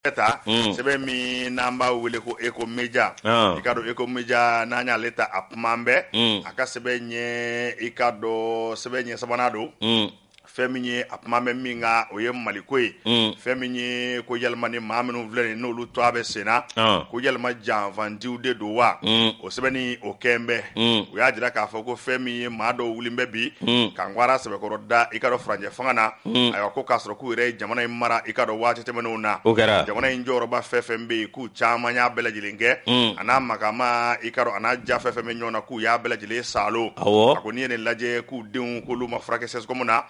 bɛ ta mm. sɛbɛn min n'an b'a wele ko Eco Média ah. i k'a dɔn Eco Média n'an y'ale ta a kuma bɛ mm. a ka sɛbɛn ɲɛ i k'a dɔn sɛbɛn ɲɛ sabanan don mm. fɛn min ye a kuma bɛ min kan o ye maliko ye fɛn min ye ko yalima ni maa minnu filɛ nin n'olu tɔgɔ bɛ senna ah. ko yalima janfantiw de don wa sɛbɛnni o kɛlen bɛ u y'a jira k'a fɔ ko fɛn min ye maa dɔw wulilen bɛ bi ka ngwara sɛbɛkɔrɔ da i k'a dɔn furancɛ fanga na ayiwa ko k'a sɔrɔ k'u yɛrɛ ye jamana in mara i k'a dɔn waati tɛmɛnenw na jamana in jɔyɔrɔba fɛn fɛn bɛ yen k'u caman y'a bɛɛ lajɛlen kɛ a n'a makama i k'a dɔn a n'a ja fɛn fɛn bɛ ɲɔgɔn na k'u y'a bɛɛ lajɛlen saalo a ko n'i ye nin lajɛ k'u denw k'olu ma furakɛ sɛsikɔmu na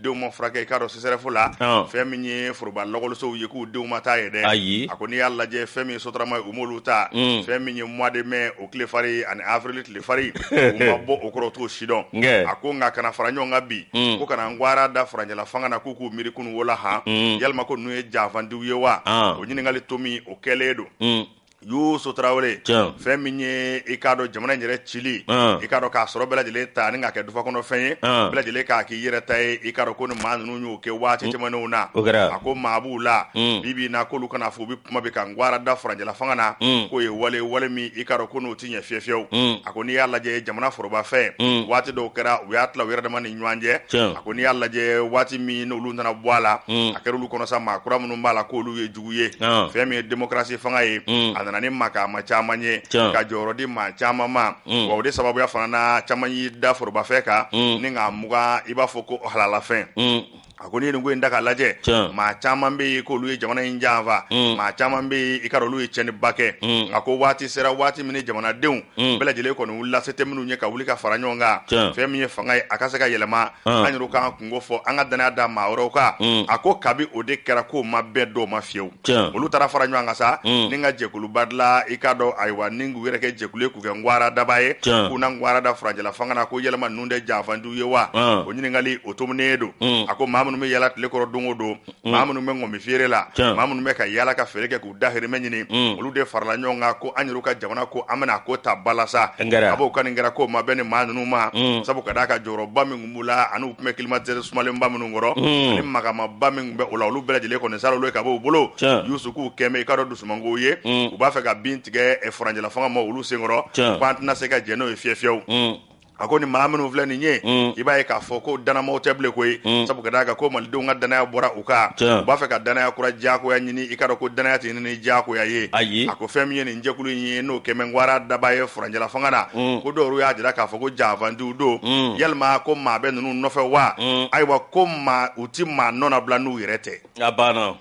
denw ma furakɛ i k'a dɔn sesɛrɛfu la Ɔn. fɛn min ye foroba lɔgɔlisow ye k'u denw ma taa yen dɛ Ayi. a ko n'i y'a lajɛ fɛn min ye sotarama ye u m'olu ta Mm. fɛn min ye mois de mai o tile fari ani avril tile fari u ma bɔ o kɔrɔ u t'o si dɔn Nkɛ. a ko nka ka na fara ɲɔgɔn kan bi Mm. ko ka na ngwara da furancɛla fanga na k'u k'u miiri kunun wola han Mm. yalima ko ninnu ye janfandiw ye wa Ɔn. o ɲininkali tomi o kɛlen don Mm. Yusu Tarawele fɛn min ye i k'a dɔn jamana yɛrɛ cili i k'a dɔn k'a sɔrɔ bɛɛ lajɛlen ta ni k'a kɛ dufa kɔnɔfɛn ye bɛɛ lajɛlen k'a k'i yɛrɛ ta ye i k'a dɔn ko ni maa ninnu y'o kɛ waati tɛmɛnenw na a ko maa b'u la bi bi in na k'olu ka na fɔ u bɛ kuma bɛ ka ngwara da furancɛla fanga na k'o ye wale wale min i k'a dɔn ko n'o tɛ ɲɛ fiyewu fiyewu a ko n'i y'a lajɛ jamana forobafɛn waati dɔw kɛra u y'a tila u yɛrɛ dama ni ɲɔgɔn cɛ a ko n'i y'a lajɛ waati min n'olu nana bɔ a la a kɛra olu kɔnɔ sa maa kura minnu b'a la k'olu ye jugu ye fɛn min ye demokarasi fanga ye a nana ni makama caman ye ka jɔyɔrɔ di maa caman ma o de sababuya fana caman y'i da forobafɛn kan ni k'a mugan i b'a fɔ ko halalafɛn a ko ni ko in da k'a lajɛ maa caman bɛ ko olu ye jamana in janfa maa caman bɛ i k'a dɔn olu ye cɛnniba kɛ a ko waati sera waati min jamanadenw bɛɛ lajɛlen kɔni la se tɛ minnu ye ka wuli ka fara ɲɔgɔn kan fɛn min ye fanga ye a ka se ka yɛlɛma an yɛrɛ kan n ko fɔ an ka danaya da maa wɛrɛw kan mm. a ko kabi o de kɛra k'o ma bɛn dɔw ma fiyewu olu taara fara ɲɔgɔn kan sa mm. ni ka jɛkuluba dilan i k'a dɔn ayiwa ni k'u yɛrɛ kɛ jɛkulu ye k'u kɛ ngwara daba ye k'u na ngwara da furancɛla fanga na ko yalima ninnu de janfandiw ye wa o ɲininkali o tominen don mm. a ko maa minnu bɛ yaala tile kɔrɔ don o don Mm. maa minnu bɛ ŋɔmi feere la maa minnu bɛ ka yaala ka feere kɛ k'u dahirimɛ ɲini mm. olu de farala ɲɔgɔn kan ko an yɛrɛ ka jamana ko an bɛna a ko ta ba la sa a ko ka nin kɛra k'o ma bɛn nin maa ninnu ma mm. sabu ka d'a kan jɔyɔrɔba min tun b'u la ani u tun bɛ kilimatɛri sumalenba minnu kɔrɔ ani makamaba min bɛ o la olu bɛɛ lajɛlen kɔni sa olu ka bɔ u bolo Yusu k'o kɛlen bɛ i k'a dɔn dusumango ye u b'a fɛ ka bin tigɛ e, furancɛla fanga maa olu sen kɔrɔ k'an tɛna se ka jɛn n'o ye fiyewu fiyewu a ko ni maa minnu filɛ nin ye mm. i b'a ye k'a fɔ ko danamaaw tɛ bilen koyi mm. sabu ka d'a kan ko malidenw ka danaya bɔra u kan u b'a fɛ ka danaya kura diyagoya ɲini i k'a dɔn ko danaya tɛ ɲini diyagoya ye ayi a ko fɛn min ye nin jɛkulu in ye n'o kɛlen bɛ ngwara daba ye furancɛla fanga na mm. ko dɔw y'a jira k'a fɔ ko janfandiw don yalima ko maa bɛ ninnu nɔfɛ wa ayiwa ko maa u ti maa nɔnabila n'u yɛrɛ tɛ a banna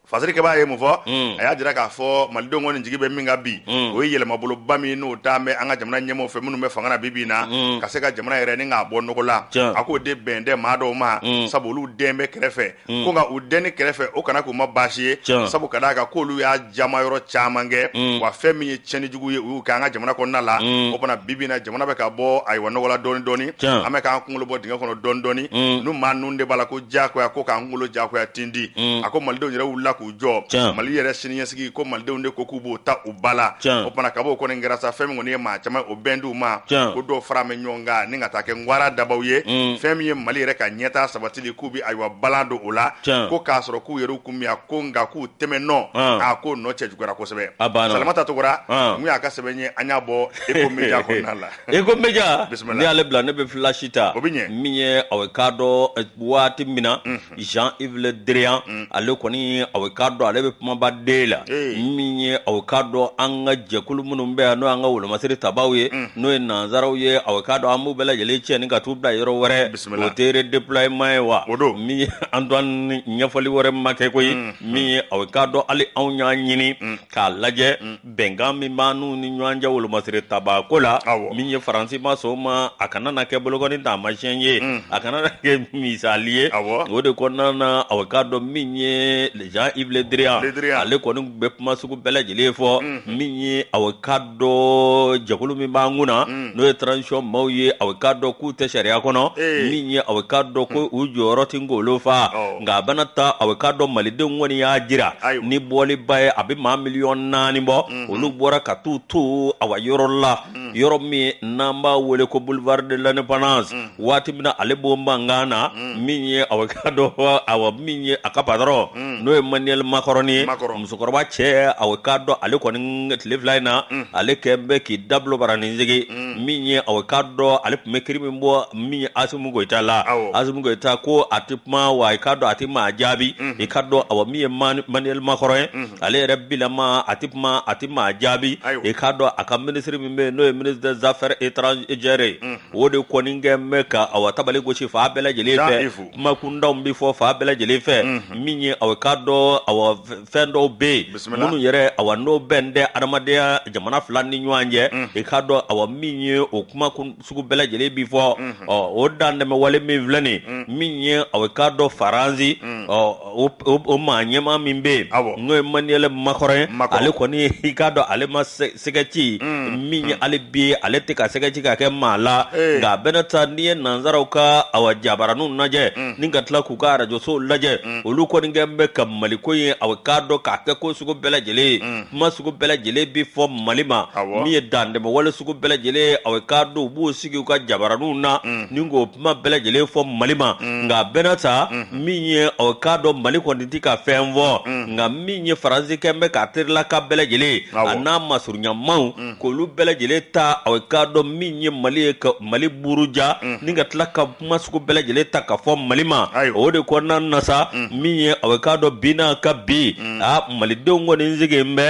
fasarikɛba ye mun fɔ a y'a jira k'a fɔ malidenw kɔni jigi bɛ min ka bi o ye yɛlɛmaboloba min n'o taa bɛ an ka jamana ɲɛmɔgɔ fɛ minnu bɛ fanga na bibi in na ka se ka jamana yɛrɛ ni k'a bɔ nɔgɔ la a k'o de bɛn tɛ maa dɔw ma sabu olu dɛn bɛ kɛrɛfɛ ko nka u dɛnni kɛrɛfɛ o kana k'u ma baasi ye sabu ka d'a kan k'olu y'a jama yɔrɔ caman kɛ wa fɛn min ye cɛnijugu ye u k'an ka jamana kɔnɔna la o kama bibi in na jamana bɛ ka bɔ ayiwa nɔgɔ la dɔɔnin dɔɔnin an bɛ k'an kunkolo bɔ dingɛ kɔnɔ dɔɔnin dɔɔnin n'u maa ninnu de b'a la ko diyakoya ko k'an kunkolo diyakoya tindi mm. a ko malidenw yɛrɛ wulila k'u jɔ mali yɛrɛ siniɲɛsigi ko malidenw de ko k'u b'o ta u ba la o fana ka b'o kɔni kɛra sa fɛn min kɔni ye maa caman o bɛn t'u ma ko dɔw fara bɛ ɲɔgɔn kan ni ka taa kɛ ngwara dabaw ye mm. fɛn min ye mali yɛrɛ ka ɲɛtaa sabatili k'u bɛ ayiwa balan don o la ko k'a sɔrɔ k'u yɛrɛw kun miya ko nka k'u tɛmɛn nɔ a ko nɔ cɛjuguyara kosɛbɛ salamata togora mun y'a ka sɛbɛn ye an y'a bɔ eko media kɔnɔna la eko media Bisimila. n'i y'ale bila ne bɛ filasi ta O bɛ ɲɛ. min ye a bɛ k'a dɔn eh, waati min na jean yves le drian ale kɔni a bɛ k'a dɔn ale bɛ kumaba den la Ee. min ye a bɛ k'a dɔn an ka jɛkulu minnu bɛ yan n'o y'an ka wolomasiri tabaaw ye n'o ye nanzaraw ye a bɛ k'a dɔn an b'u bɛɛ lajɛlen cɛ ni ka t'u bila yɔrɔ wɛrɛ Bisimila. o tɛ redéploiement ye wa O don. min ye antoine ɲɛfɔli wɛrɛ ma kɛ koyi min ye a bɛ k'a dɔn hali anw y'a ɲini k'a lajɛ mm. bɛnkan min b'an n'u ni ɲɔgɔn cɛ wolomasiri tabaako la min ye faransi ma sɔn o ma a kana na kɛ bolokɔni taamasiyɛn ye mm. a kana na kɛ misali ye o de kɔnɔna na aw k'a dɔn min ye jean yves le drian ale kɔni bɛ kuma sugu bɛɛ lajɛlen fɔ mm. min ye aw ka dɔn jɛkulu min b'an kun na mm. n'o ye transition maaw ye a bɛ k'a dɔn k'u tɛ sariya kɔnɔ min ye a bɛ k'a dɔn ko u jɔyɔrɔ tɛ ngolo fa nka a bɛna ta a bɛ k'a dɔn malidenw kɔni y'a jira ni bɔliba ye a bɛ maa miliyɔn naani bɔ mm-hmm. olu bɔra ka t'u ton awa yɔrɔ la mm. yɔrɔ min n'an b'a wele ko boulevard de l'indépendance mm. waati min na ale b'o mankan na mm. min ye aw ka dɔn awa min ye a ka patɔrɔn mm. n'o ye maniyɛli makɔrɔni ye musokɔrɔba cɛ aw ka dɔn ale kɔni tile fila in na mm. ale kɛ bɛ k'i dabilo bara ni jigi min ye aw ka dɔn ale tun bɛ kiri min bɔ min ye asimi goyita la asimi goyita ko a tɛ kuma wa i ka dɔn a tɛ maa jaabi mm-hmm. i ka dɔn awa min ye maniyɛli makɔrɔn ye mm-hmm. ale yɛrɛ bilama a tɛ kuma a tɛ maa jaabi i ka dɔn a ka minisiri min bɛ yen n'o ye ministre des affaires étrangères ye o de kɔni kɛ bɛ ka awa tabali gosi fan bɛɛ lajɛlen fɛ kumakuntanw bɛ fɔ fan bɛɛ lajɛlen fɛ min ye aw ka dɔn awa fɛn dɔw bɛ yen minnu yɛrɛ awa n'o bɛn tɛ adamadenya jamana fila ni ɲɔgɔn cɛ i ka dɔn awa min ye o kuma sugu bɛɛ lajɛlen bɛ fɔ ɔ o dan tɛmɛ wale min filɛ nin min ye aw ka dɔn faransi ɔ o maa ɲɛmaa min bɛ yen n'o ye manuel macron ye ale kɔni i k'a dɔn ale ma sɛgɛ ci min ye ale bi ale tɛ ka sɛgɛ ci ka kɛ maa la nka a bɛna taa n'i ye nanzaraw ka a jabaraniw lajɛ ni ka tila k'u ka arajosow lajɛ olu kɔni kɛ bɛ ka maliko ye a k'a dɔn k'a kɛ ko sugu bɛɛ lajɛlen ye kuma sugu bɛɛ lajɛlen bɛ fɔ mali ma min ye dantɛmɛ wale sugu bɛɛ lajɛlen a k'a dɔn u b'u sigi u ka jabaraniw na ni ko kuma bɛɛ lajɛlen fɔ mali ma mm. nka a bɛna taa mm. min ye aw k'a dɔn mali kɔni tɛ ka fɛn fɔ mm. nka min ye faransi kɛ bɛ k'a terila ka bɛɛ lajɛlen a n'a masurunyamaw k'olu bɛɛ lajɛlen ta aw k'a dɔn min ye mali ye ka mali buruja ni ka tila ka kuma sugu bɛɛ lajɛlen ta ka fɔ mali ma o de kɔnɔna na sa min ye aw k'a dɔn bi n'a ka bi a malidenw kɔni sigilen bɛ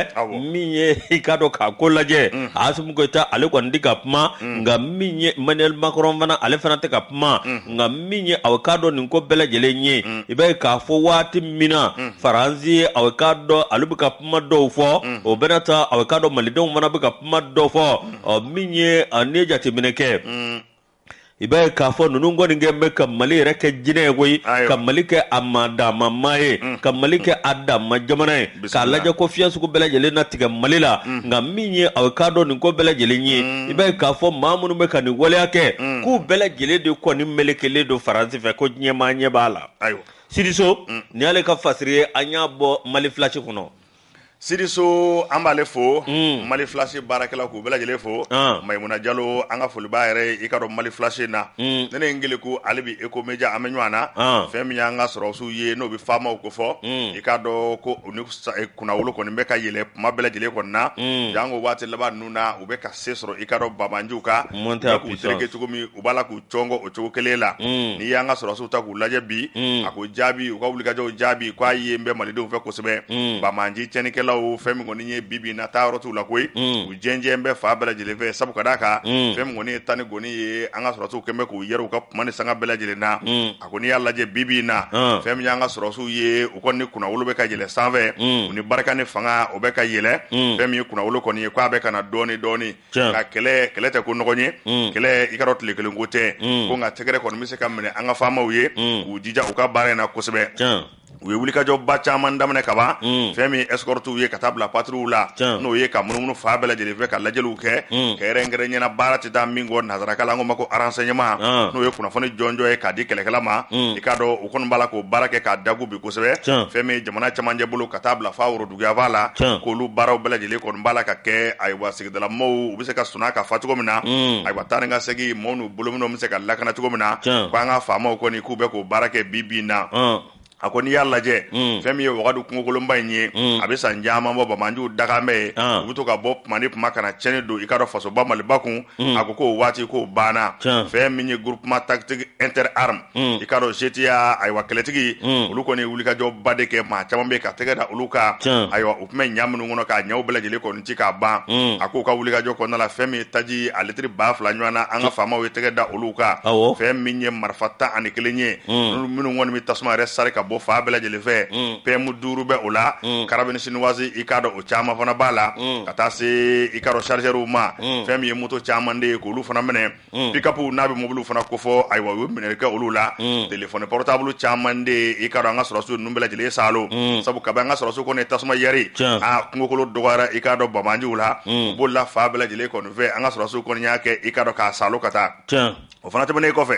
min ye i k'a dɔn k'a ko lajɛ a assimi goïta ale kɔni tɛ ka kuma mm. nka min ye emmanuel macron fana ale fana tɛ ka kuma mm. nka min ye aw k'a dɔn nin ko bɛɛ lajɛlen ye mm. i b'a ye k'a fɔ waati min na mm. faransi aw k'a dɔn ale bɛ ka kuma dɔw fɔ mm. o bɛna taa aw k'a dɔn malidenw fana bɛ ka kuma dɔ fɔ mm. ɔ min ye n'i ye jateminɛ kɛ mm. i b'a ye k'a fɔ ninnu kɔni kɛ bɛ ka mali yɛrɛ kɛ jinɛ ye koyi ka mali kɛ a ma dama maa ye ka mali kɛ a dama jamana ye k'a lajɛ ko fiɲɛ sugu bɛɛ lajɛlen na tigɛ mali la mm. nka min ye aw k'a dɔn nin ko bɛɛ lajɛlen ye mm. i b'a ye k'a fɔ maa minnu bɛ ka nin waleya kɛ mm. k'u bɛɛ lajɛlen de kɔni melekelen don faransi fɛ ko ɲɛmaa ɲɛ b'a la sidi so nin y'ale ka fasiri ye an y'a bɔ mali flash kɔnɔ sidi so an b'ale fo mm. mali flash baarakɛla k'u bɛɛ lajɛlen fo ah. maimuna jalo an ka foli b'a yɛrɛ ye i ka dɔn mali flash na mm. nene ngele ko ale bi eco media an bɛ ɲɔgɔn na ah. fɛn min y'an ka sɔrɔsiw ye n'o bɛ faama ko fɔ i k'a dɔn ko u ni kunnawolo kɔni bɛ ka yɛlɛ kuma bɛɛ lajɛlen kɔnɔna na janko waati laban ninnu na u bɛ ka se sɔrɔ i ka dɔn banbaanciw kan k'u tereke cogo min u b'a la k'u cɔngɔ o cogo kelen la n'i y'an ka sɔrɔsiw ta k'u lajɛ bi a ko jaabi u ka wulikajɔw jaabi k'a ye bɛ malidenw fɛ kosɛbɛ banbaanci cɛnnikɛlaw fɛn min kɔni ye bibi na taa yɔrɔ t'u la koyi u jɛnjɛn bɛ fan bɛɛ lajɛlen fɛ sabu ka d'a kan fɛn min kɔni ye tan ni gɔni ye an ka sɔrɔsiw kɛ bɛ k'u yɛrɛ u ka kuma ni sanga bɛɛ lajɛlen na a ko n'i y'a lajɛ bibi in na Ɔn. fɛn min y'an ka sɔrɔsiw ye u kɔni ni kunnawolo bɛ ka yɛlɛ sanfɛ Mm. u ni barika ni fanga o bɛ ka yɛlɛ Mm. fɛn min ye kunnawolo kɔni ye k'a bɛ ka na dɔɔni dɔɔni Tiɲɛ. nka kɛlɛ kɛlɛ tɛ ko nɔgɔn ye Mm. kɛlɛ i ka dɔn tile kelen ko tɛ Mm. ko nka tɛgɛrɛ kɔni bɛ se ka minɛ an ka faamaw ye Mm. k'u jija u ka baara in na kosɛbɛ Tiɲɛ. u ye wulikajɔba caman daminɛ kaban mm. fɛn min escortiw ye ka taa bila patrouille la n'o ye ka munumunu fan bɛɛ lajɛlen fɛ ka lajɛliw kɛ mm. kɛrɛnkɛrɛnnenya la baara tɛ taa min kɔ nanzarakan la an k'o ma ko renseignement ah. n'o ye kunnafoni jɔnjɔn ye k'a di kɛlɛkɛla ma mm. i k'a dɔn u kɔni b'a la k'o baara kɛ k'a dagu bi kosɛbɛ fɛn min jamana camancɛ bolo ka taa bila f'a woroduguyanfan la k'olu baaraw bɛɛ lajɛlen kɔni b'a la ka kɛ ayiwa maaw u bɛ se ka sunɔgɔ ka fa cogo min na ayiwa taa ni ka segin maaw n'u bolominɛnw bɛ se ka lakana cogo min na k' an ka faamaw kɔni k'u bɛ k'o baara kɛ bi bi in na a ko n'i y'a lajɛ fɛn min ye wagadu kungokolonba in ye a bɛ san caman bɔ banbaanciw daga bɛ yen u bɛ to ka bɔ tuma ni tuma ka na cɛnni don i k'a dɔn fasoba maliba kun a ko k'o waati k'o banna fɛn min ye groupement tactique interarmes i k'a dɔn GTIA ayiwa kɛlɛtigi olu kɔni ye wulikajɔba de kɛ maa caman bɛ ka tɛgɛ da olu kan ayiwa u tun bɛ ɲa minnu kɔnɔ k'a ɲaw bɛɛ lajɛlen kɔni ci k'a ban a k'u ka wulikajɔ kɔnɔna la fɛn min ye taji a litiri ba fila ɲɔgɔn na an ka faamaw ye tɛgɛ da olu kan fɛn min ye marifa tan ani kelen ye minnu kɔni bɛ tasuma yɛrɛ sari ka bɔ fan bɛɛ lajɛlen fɛ PM duuru bɛ o la carabine chinoise i k'a dɔn o caman fana b'a la ka taa se i k'a dɔn chargeurs ma fɛn min ye moto caman de ye k'olu fana minɛ Mm. pickup n'a bɛ mobiliw fana kofɔ ayiwa u ye minɛ kɛ olu la mm. telefɔni portable caman de i k'a dɔn an ka sɔrɔsiw ninnu bɛɛ lajɛlen salo mm. sabu kabi an ka sɔrɔsiw kɔni ye tasuma yɛri kungokolo dɔgɔyara i k'a dɔn banbaanciw la u bolila fan bɛɛ lajɛlen kɔni fɛ an ka sɔrɔsiw kɔni y'a kɛ i k'a dɔn k'a salo ka taa o fana tɛmɛnen kɔfɛ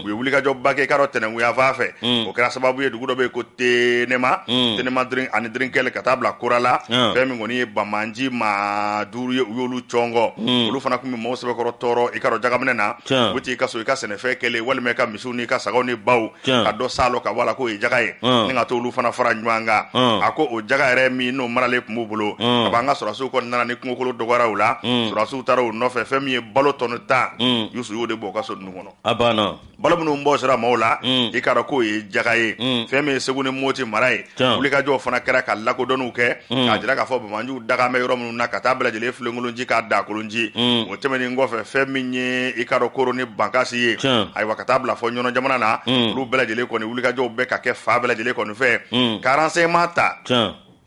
u ye wulikajɔba kɛ i k'a dɔn tɛnɛnkun yan fan fɛ o kɛra sababu ye dugu dɔ bɛ yen ko tenema drin ani drin kɛlɛ ka taa bila kurala fɛn min kɔni ye banbaanci maa duuru ye u y'olu cɔngɔ olu fana tun bɛ maaw sɛbɛkɔrɔ tɔɔrɔ i k'a dɔn jagaminɛ na u t'i ka so i ka sɛnɛfɛn kɛlen walima i ka misiw n'i ka sagaw ni baw ka dɔ salo ka bɔ a la k'o ye jaga ye ni ka to olu fana fara ɲɔgɔn kan a ko o jaga yɛrɛ min n'o maralen tun b'u bolo a b'an ka sɔrɔsiw kɔni nana ni kungokolo dɔgɔyara u la sɔrɔsiw taara u nɔfɛ fɛn min ye balo tɔni tan yusu y'o de bɔ u ka so kɔnɔ balo minnu bɔsira maaw la mm. i k'a dɔn k'o ye jaga ye mm. fɛn min ye segu ni moti mara ye wulikajɔw fana kɛra ka lakodɔnniw kɛ mm. k'a jira k'a fɔ banbaanciw daga bɛ yɔrɔ minnu na ka taa bɛɛ lajɛlen filenkolonci k'a dagakolonci o tɛmɛnen kɔfɛ fɛn min ye i k'a dɔn koro ni bankasi ye ayiwa ka taa bila fɔ ɲɔnɔ jamana na olu bɛɛ lajɛlen kɔni wulikajɔw bɛ ka kɛ fan bɛɛ lajɛlen kɔni fɛ ka renseignement ta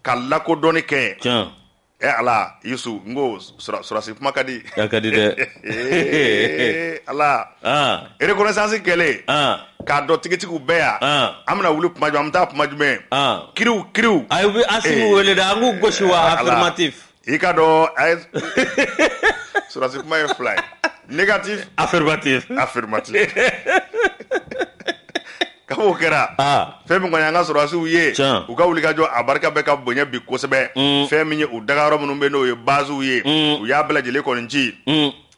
ka lakodɔnni kɛ Ɛ ala yusu n ko sɔrɔsi kuma ka di ka di dɛ ala reconnaissance kɛlen k'a dɔn tigitigi u bɛ yan an bɛna wuli tuma jumɛn an bɛ taa tuma jumɛn kiriw kiriw u bɛ asimi wele dɛ an k'u gosi wa affirmatif i k'a dɔn sɔrɔsi kuma ye fila ye négatif affirmatif affirmatif Ka o kɛra fɛn min an ka sɔrɔsiw ye u ka wulikajɔ a barika bɛ ka bonya bi kosɛbɛ fɛn min ye u dagayɔrɔ minnu bɛ n'o ye baziw ye u y'a bɛɛ lajɛlen kɔni ci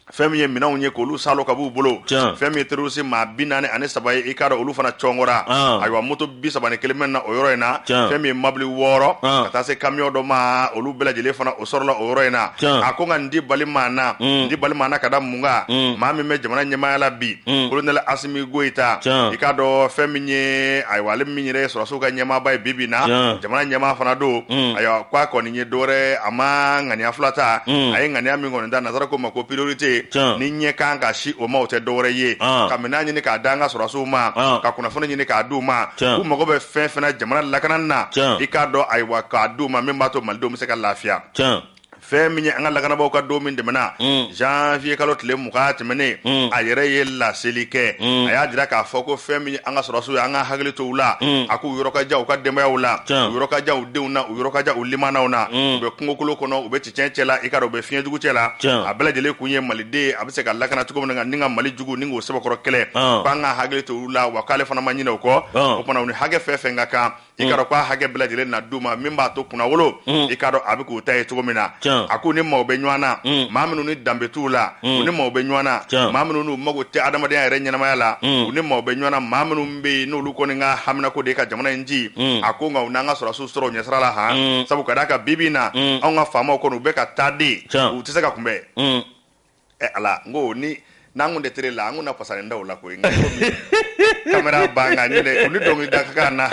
fɛn min ye minɛnw ye k'olu salo ka b'u bolo fɛn min ye terroriste maa bi naani ani saba ye i k'a dɔn olu fana cɔngɔra ayiwa moto bi saba ni kelen minɛna o yɔrɔ in na fɛn min ye mabili wɔɔrɔ ka taa se kamiyɔn dɔ ma olu bɛɛ lajɛlen fana o sɔrɔla o yɔrɔ in na a ko nka n dabali banna dabali banna ka da mun kan maa min bɛ jamana ɲɛmaaya la bi olu mi Goyita Can. i k'a dɔn fɛn min ye ayiwa ale min yɛrɛ ye sɔrɔsiw ka ɲɛmaaba ye bi bi in na Can. jamana ɲɛmaa fana don Mm. ayiwa ko a kɔni ye dɔwɛrɛ a ma ŋaniya fila ta Mm. a ye ŋaniya min kɔni ta nansara ko ma ko priorité Can. n'i ɲɛ kan ka sin o ma o tɛ dɔwɛrɛ ye Ah. ka minɛn ɲini k'a d'an ka sɔrɔsiw ma Ah. ka kunnafoni ɲini k'a d'u ma Can. u mago bɛ fɛn fɛn na jamana lakanani na Can. i k'a dɔn ayiwa k'a d'u ma min b'a to malidenw bɛ se ka lafiya Can. fɛn min ye an ka lakanabaaw ka don min tɛmɛna mm. janvier kalo tile mugan tɛmɛnen mm. a yɛrɛ ye laseli kɛ mm. a y'a jira k'a fɔ ko fɛn min ye an ka sɔrɔsiw ye an ka hakili to u la a k'u yɔrɔ ka jan u ka denbayaw la u yɔrɔ ka jan u denw na u yɔrɔ ka jan u limaanaw na u bɛ kungokolo kɔnɔ u bɛ cɛncɛn cɛ la i k'a dɔn u bɛ fiɲɛ jugu cɛ la a bɛɛ lajɛlen kun ye maliden a bɛ se ka lakana cogo min na ni ka Mali jugu ni k'o sɛbɛkɔrɔ kɛlɛ k'an ka hakili to u la wa k'ale fana ma ɲinɛ o kɔ o tuma u ni hakɛ fɛn fɛn ka kan i k'a dɔn k'a hakɛ bɛɛ lajɛlen na d'u ma min b'a to kunnawolo i k'a dɔn a bɛ k'u ta ye cogo min na a k'u ni maaw bɛ ɲɔgɔn na maa minnu ni danbe t'u la u ni maaw bɛ ɲɔgɔn na maa minnu n'u mago tɛ adamadenya yɛrɛ ɲɛnamaya la u ni maaw bɛ ɲɔgɔn maa minnu bɛ yen n'olu kɔni ka haminako de ka jamana in ci a ko nka u n'an ka sɔrɔsiw sɔrɔ ɲɛsira la ah sabu ka d'a kan bi bi na an ka faamaw kɔni u bɛ ka taa de u tɛ se ka kunbɛn Ala ko ni n'an kun tɛ tele la an kun fasa da la ko da na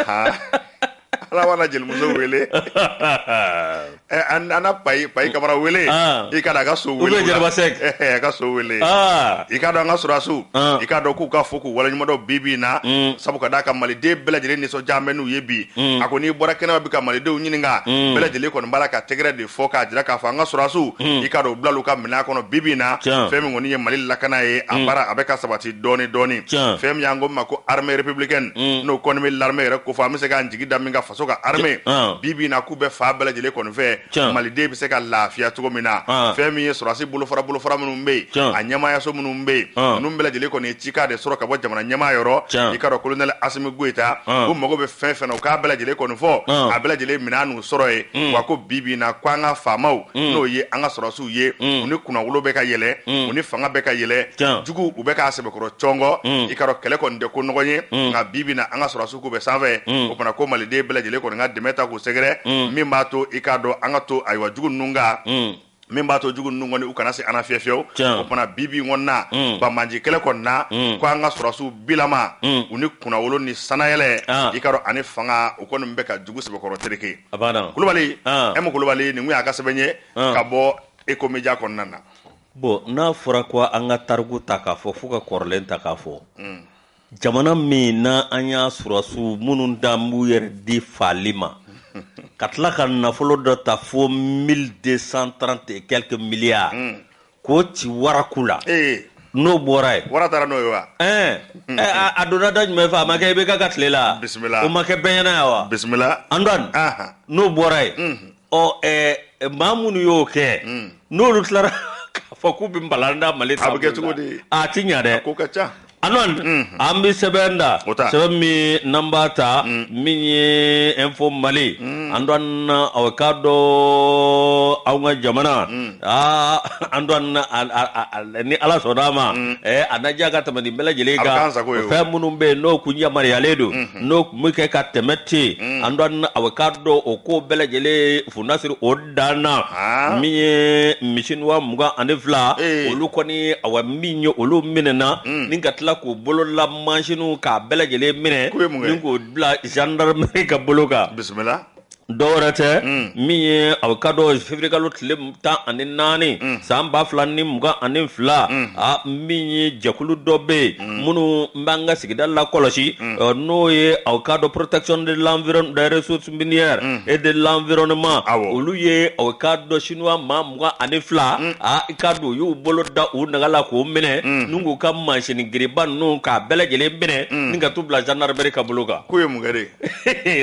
ala jelimuso wele an na Payi Kamara wele i k'a dɔn a ka so wele a ka so wele i k'a dɔn an ka sɔrɔsiw i k'a dɔn k'u ka fo k'u waleɲumandɔn bi bi na sabu ka d'a kan maliden bɛɛ lajɛlen nisɔndiya bɛ n'u ye bi a ko n'i bɔra kɛnɛma bi ka malidenw ɲininka bɛɛ lajɛlen kɔni b'a la ka tɛgɛrɛ de fɔ k'a jira k'a fɔ an ka sɔrɔdasiw i k'a dɔn u bilala u ka minɛn kɔnɔ bi bi in na fɛn min kɔni ye Mali lakana ye a baara a bɛ ka sabati dɔɔni dɔɔni fɛn min y'an ko min ma ko armée républicaine n'o kɔni bɛ l'armée yɛrɛ kofɔ an bɛ se k'an jigi da min kan faso ka armée bi bi in na k'u bɛ fan bɛɛ lajɛlen kɔni fɛ maliden bɛ se ka lafiya cogo min na fɛn min ye sɔrɔdasi bolofara bolofara minnu bɛ yen a ɲɛmaayaso minnu bɛ yen ninnu bɛɛ lajɛlen kɔni ye cikan de sɔrɔ ka bɔ jamana ɲɛmaa yɔrɔ i k'a dɔn colonel Asimi Goyita u mago bɛ fɛn o fɛn na u k'a bɛɛ lajɛlen kɔni fɔ a bɛɛ lajɛlen minɛn sɔrɔ ye mm. wa ko bi bi na ko an ka faamaw mm. n'o ye an ka sɔrɔsiw ye mm. u ni kunnawolo bɛ ka yɛlɛ mm. u ni fanga bɛ ka yɛlɛ jugu u bɛ k'a sɛbɛkɔrɔ cɔngɔ mm. i k'a dɔn kɛlɛ kɔni tɛ ko nɔgɔn ye mm. nka bi bi na an ka sɔrɔsiw k'u bɛ sanfɛ mm. o fana ko maliden bɛɛ lajɛlen kɔni ka dɛmɛ ta k'u sɛgɛrɛ mm. min b'a to i k'a dɔn an ka to ayiwa jugu ninnu kan mm. min b'a to jugu ninnu kɔni u kana se an na fiyewu fiyewu o fana bi bi kɔni na mm. banbaanci kɛlɛ kɔni na mm. ko an ka sɔrɔsiw bilama mm. u ni kunnawolo ni sanayɛlɛ ah. i k'a dɔn ani fanga u kɔni bɛ ka jugu sɛbɛkɔrɔ tereke Kulubali ah. emu Kulubali nin kun y'a ka sɛbɛn ye ah. ka bɔ Échos Médias kɔnɔna na bon n'a fɔra ko an ka tariku ta k'a fɔ fo ka kɔrɔlen ta k'a fɔ jamana min na an y'a sɔrɔdasiw minnu dan b'u yɛrɛ di faali ma ka tila ka nafolo dɔ ta fo 1230 et quelques milliards hmm. k'o ci waraku la eh. n'o bɔra ye wara taara n'o ye wa ɛɛ hmm. eh, a, a donna da jumɛn fɛ a ma kɛ IBK ka tile la bisimila o ma kɛ bɛɛ ɲɛ na yan wa bisimila Antoine n'o bɔra ye hmm. ɔ ɛɛ maa minnu y'o kɛ hmm. n'olu tilara k'a fɔ k'u bɛ balan da mali taabolo la a bɛ kɛ cogo di a tɛ ɲa dɛ a ko ka ca Antoine hmm. an bɛ sɛbɛn ta sɛbɛn min n'an b'a ta hmm. min ye info mali Antoine aw k'a dɔn an ka jamana Antoine ni ala sɔnna d'a ma mm. eh, a na diya ka tɛmɛ nin bɛɛ lajɛlen kan fɛn minnu bɛ yen n'o kun yamaruyalen don mm-hmm. n'o tun bɛ kɛ ka tɛmɛ ten mm. Antoine aw k'a dɔn o ko bɛɛ lajɛlen fu na siri o dan na ah. min ye Chinois mugan ani fila eh. olu kɔni a min ye olu minɛna mm. ni ka tila k'u bolo la masinw k'a bɛɛ lajɛlen minɛ k'o bila gendarmerie ka bolo kan bisimila dɔwɛrɛ tɛ min ye aw k'a dɔn février kalo tile tan ani naani san ba fila ni mugan ani fila min ye jɛkulu dɔ bɛ yen minnu b'an ka sigida lakɔlɔsi n'o ye aw k'a dɔn protection des ressources minières et de l'environnement olu ye aw k'a dɔn Chinois maa mugan ani fila i k'a dɔn u y'u bolo da u naga la k'o minɛ ni k'u ka masin girinba ninnu k'a bɛɛ lajɛlen minɛ ka t'u bila gendarmerie ka bolo kan k'o ye mun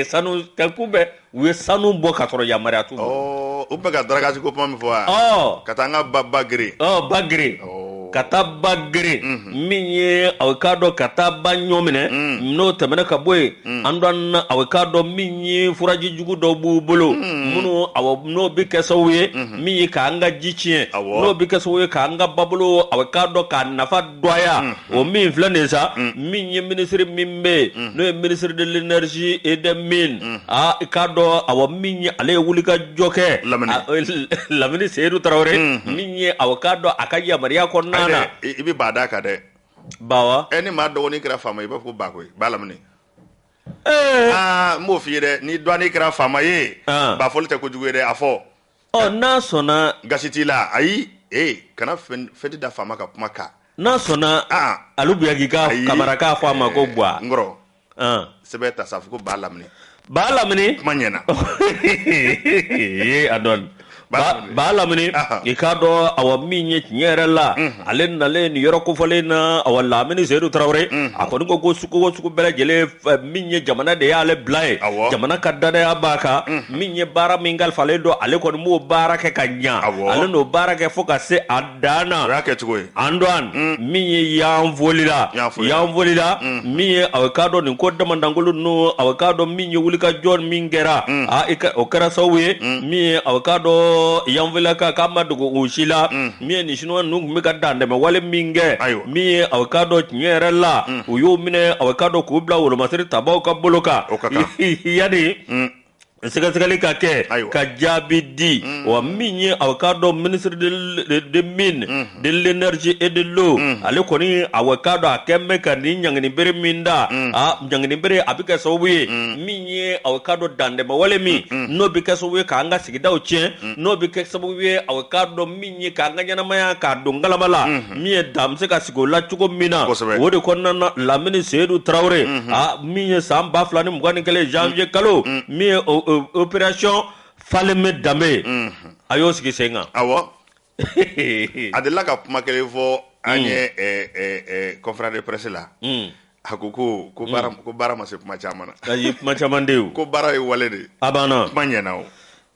sanu ka kun bɛ u ye sanu bɔ ka sɔrɔ yamaruya t'u bolo, ɔ u bɛ ka dragage ko kuma min fɔ wa, ɔ ka taa an ka ba ba geren, ɔ ba geren, ɔ ka taa ba geren min ye aw k'a dɔn ka taa ba ɲɔ minɛ n'o tɛmɛna ka bɔ yen Antoine aw k'a dɔn min ye furaji jugu dɔw b'u bolo minnu aw n'o bɛ kɛ sababu ye min ye k'an ka ji tiɲɛ Awɔ. n'o bɛ kɛ sababu ye k'an ka babolo aw k'a dɔn k'a nafa dɔgɔya o min filɛ nin sa min ye ministre min bɛ yen n'o ye ministre de l'énergie et des mines aa i k'a dɔn a min ye ale ye wulikajɔ kɛ lamini seyidu tarawele min ye aw k'a dɔn a ka yamaruya kɔnɔna na la i bɛ ba d'a kan dɛ ba e ni maa dɔgɔnin kɛra faama i b'a fɔ ba koyi ba lamini n b'o f'i ye dɛ ni dɔgɔnin kɛra faama ye ba fɔli tɛ ko jugu ye a fɔ ɔ n'a sɔnna gasi t'i la ayi ee kana fɛti da faama ka kuma kan n'a sɔnna ah. alu buyagi ka kamara k'a fɔ a ma ko bwa n kɔrɔ ah. sɛbɛn ta sa fɔ ko ba lamini ba lamini kuma ɲɛna Antoine ba lamini i k'a dɔn awa min ye tiɲɛ yɛrɛ la mhm. ale nalen nin yɔrɔ kofɔlen na awa lamini seyidu tarawele mhm. a kɔni ko ko sugu o sugu bɛɛ lajɛlen min ye jamana de y'ale bila ye jamana ka dannaya b'a kan min ye baara min kalifalen don ale kɔni b'o baara kɛ ka ɲɛ ale n'o baara kɛ fo ka se a dan na kɛcogo Antoine min ye yanfolila yanfolila min ye aw k'a dɔn nin ko damanda kolon n' aw k'a dɔn min ye wulikajɔ min kɛra o kɛra sababu ye min ye aw k'a dɔn yanfolila ka k'a ma dogo aw si la min ye nin sinuwa ninnu tun bɛ ka dantɛmɛ wale min kɛ min ye aw k'a dɔn tiɲɛ yɛrɛ la u y'o minɛ aw k'a dɔn k'u bila wolomasiri tabaw ka bolo kan yanni sɛgɛsɛgɛli ka kɛ ka jaabi di wa min ye aw k'a dɔn ministre des mines de l'énergie et de l'eau ale kɔni aw k'a dɔn a kɛlen bɛ ka nin ɲangini bere min da a ɲangini bere a bɛ kɛ sababu ye min ye aw k'a dɔn dantɛmɛ wale min n'o bɛ kɛ sababu ye k'an ka sigidaw tiɲɛ mm. n'o bɛ kɛ sababu ye aw k'a dɔn min ye k'an ka ɲɛnamaya k'a don ngalama la mm-hmm. min ye dan bɛ se ka sigi o la cogo min na o de kɔnɔna na lamini seyidu tarawele mm-hmm. ah, min ye san ba fila ni mugan ni kelen janvier mm. kalo mm. min ye opération faleme danbe ye mm-hmm. a y'o sigi sen kan awɔ a delila ka kuma kelen fɔ an ye conférence de presse la A ko ko ko baara ko baara ma se kuma caman na a ye kuma caman de ye o. ko baara ye wale de ye a banna kuma ɲɛna o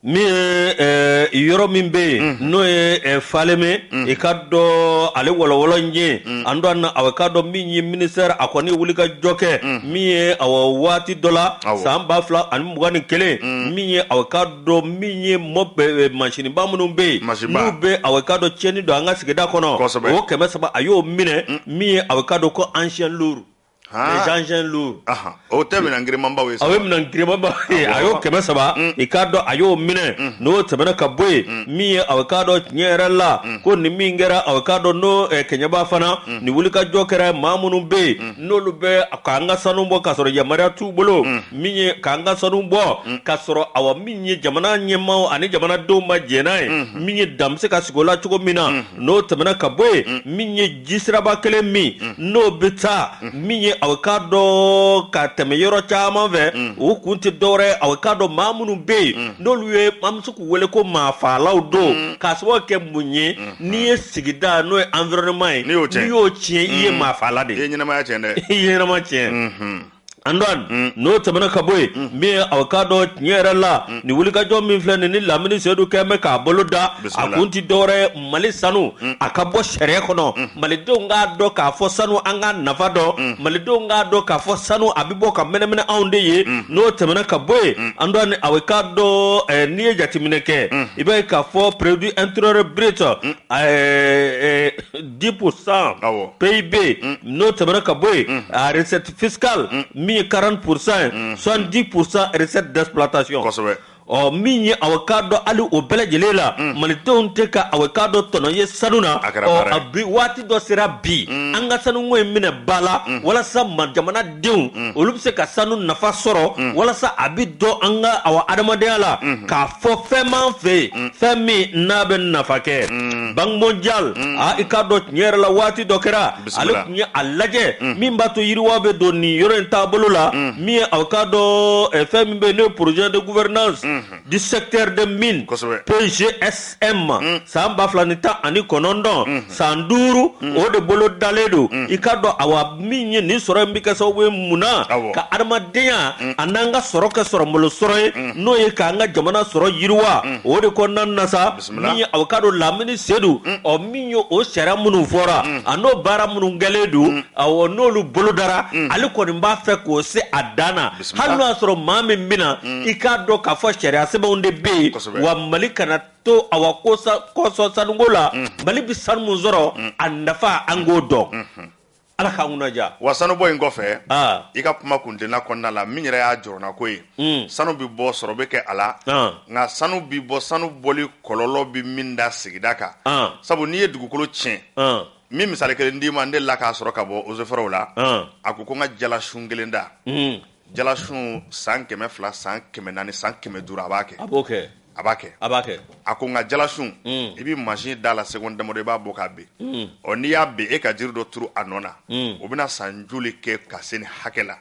min ye eh, yɔrɔ min bɛ yen n'o ye eh, faleme i ka dɔn ale wɔlɔwɔlɔ n ye Antoine aw k'a dɔn min ye ministère a kɔni wulikajɔ kɛ min ye awa waati dɔ la Awɔ. san ba fila ani mugan ni kelen min ye aw k'a dɔn min ye mɔ masinba minnu bɛ yen n'o bɛ aw k'a dɔn tiɲɛni don an ka sigida kɔnɔ o kɛmɛ saba a y'o minɛ min ye aw k'a dɔn ko engins lourds engins lourds o tɛ minɛn girinmanba ye a ye minɛn girinmanba ye a y'o kɛmɛ saba i k'a dɔn a y'o minɛ n'o tɛmɛna ka bɔ yen min ye aw k'a dɔn tiɲɛ yɛrɛ la ko nin min kɛra aw k'a dɔn n'o kɛɲɛba fana nin wulikajɔ kɛra maa minnu bɛ yen n'olu bɛ k'an ka sanu bɔ ka sɔrɔ yamaruya t'u bolo min ye k'an ka sanu bɔ mm. ka sɔrɔ awa min ye jamana ɲɛmaaw ani jamanadenw ma jɛn n'a ye mm-hmm. min ye dan bɛ se ka sigi o la cogo min na mm-hmm. n'o tɛmɛna ka bɔ yen mm. min ye jisiraba kelen min mm. n'o bɛ taa min ye aw k'a dɔn ka tɛmɛ yɔrɔ caman fɛ o kun tɛ dɔwɛrɛ ye aw k'a dɔn maa minnu bɛ yen n'olu ye an bɛ se k'u wele ko maa faalaw don k'a sababu kɛ mun ye n'i ye sigida n'o ye environnement ye n'i y'o tiɲɛ i ye maa faala de ye i ye ɲɛnamaya tiɲɛ dɛ i ye ɲɛnama tiɲɛ. Antoine mm. n'o tɛmɛna ka bɔ yen mm. min ye aw k'a dɔn tiɲɛ yɛrɛ la mm. nin wulikajɔ min filɛ nin ni lamini seyidu kɛlen bɛ k'a bolo da a kun ti dɔwɛrɛ mali sanu a ka bɔ sariya kɔnɔ malidenw k'a dɔn k'a fɔ sanu an ka nafa don malidenw k'a dɔn k'a fɔ sanu a bɛ bɔ ka mɛnɛmɛnɛ anw de ye n'o tɛmɛna ka bɔ yen Antoine aw k'a dɔn eh, n'i ye jateminɛ kɛ i b'a ye k'a fɔ produit intérieur brut eh, eh, dix pour cent PIB n'o tɛmɛna ka bɔ yen a recette fiscale min ye quarante pour cent soixante-dix pour cent recette d'exploitation ɔ min ye awa k'a dɔn hali o bɛɛ lajɛlen la malidenw tɛ ka awa k'a dɔn tɔnɔ ye sanu na a bi waati dɔ sera bi an ka sanuko in minɛ ba la walasa ma jamana denw mm. olu bɛ se ka sanu nafa sɔrɔ mm. walasa a bɛ dɔn an ka awa adamadenya la mm-hmm. k'a fɔ fɛn m'an fɛ yen mm. fɛn min n'a bɛ nafa kɛ Banque mondiale a i k'a dɔn tiɲɛ yɛrɛ la waati dɔ kɛra ale tun ye a lajɛ min b'a to yiriwa bɛ don nin yɔrɔ in taabolo la min ye awa k'a dɔn eh, fɛn min bɛ yen n'o ye projet de gouvernance mm-hmm. du secteur des mines PGSM mm. san ba fila ni tan ani kɔnɔntɔn mm. san duuru mm. o de bolodalen don i k'a dɔn awa min ye nin sɔrɔ in bɛ kɛ sababu ye mun na ka adamadenya a n'an ka sɔrɔ kɛ sɔrɔ malo sɔrɔ ye n'o ye k'an ka jamana sɔrɔ yiriwa o de kɔnɔna na sa ye awa k'a dɔn Lamine Seydou ɔ min ye o sariya minnu fɔra a n'o baara minnu kɛlen don awa n'olu bolodara ale kɔni b'a fɛ k'o se a dan na hali n'i y'a sɔrɔ maa min bɛna na i k'a dɔn k'a fɔ sariya sɛbɛnw de bɛ yen wa mali kana to a kosɔn sanuko la mali bɛ sanu sɔrɔ a nafa an k'o dɔn ala k'an kunna diya wa sanubɔ in kɔfɛ i ka kuma kuntilenna kɔnɔna la min yɛrɛ y'a jɔrɔnako ye mm. sanu bɛ bɔ sɔrɔ bɛ kɛ a la nka sanu bɛ bɔ sanu bɔli kɔlɔlɔ bɛ min da sigida kan sabu n'i ye dugukolo tiɲɛ n bɛ misali kelen d'i ma n delila k'a sɔrɔ ka bɔ Eaux et Forêts la a ko ko n ka jalasun kelen da mm. jalasun san kɛmɛ fila san kɛmɛ naani san kɛmɛ duuru a b'a kɛ a b'a kɛ a b'a kɛ a ko nka jalasun i bɛ machine d'a la seconde damadɔ i b'a bɔ k'a bin ɔ n'i y'a bin e ka jiri dɔ turu a nɔ na o bɛna san joli kɛ ka se nin hakɛ la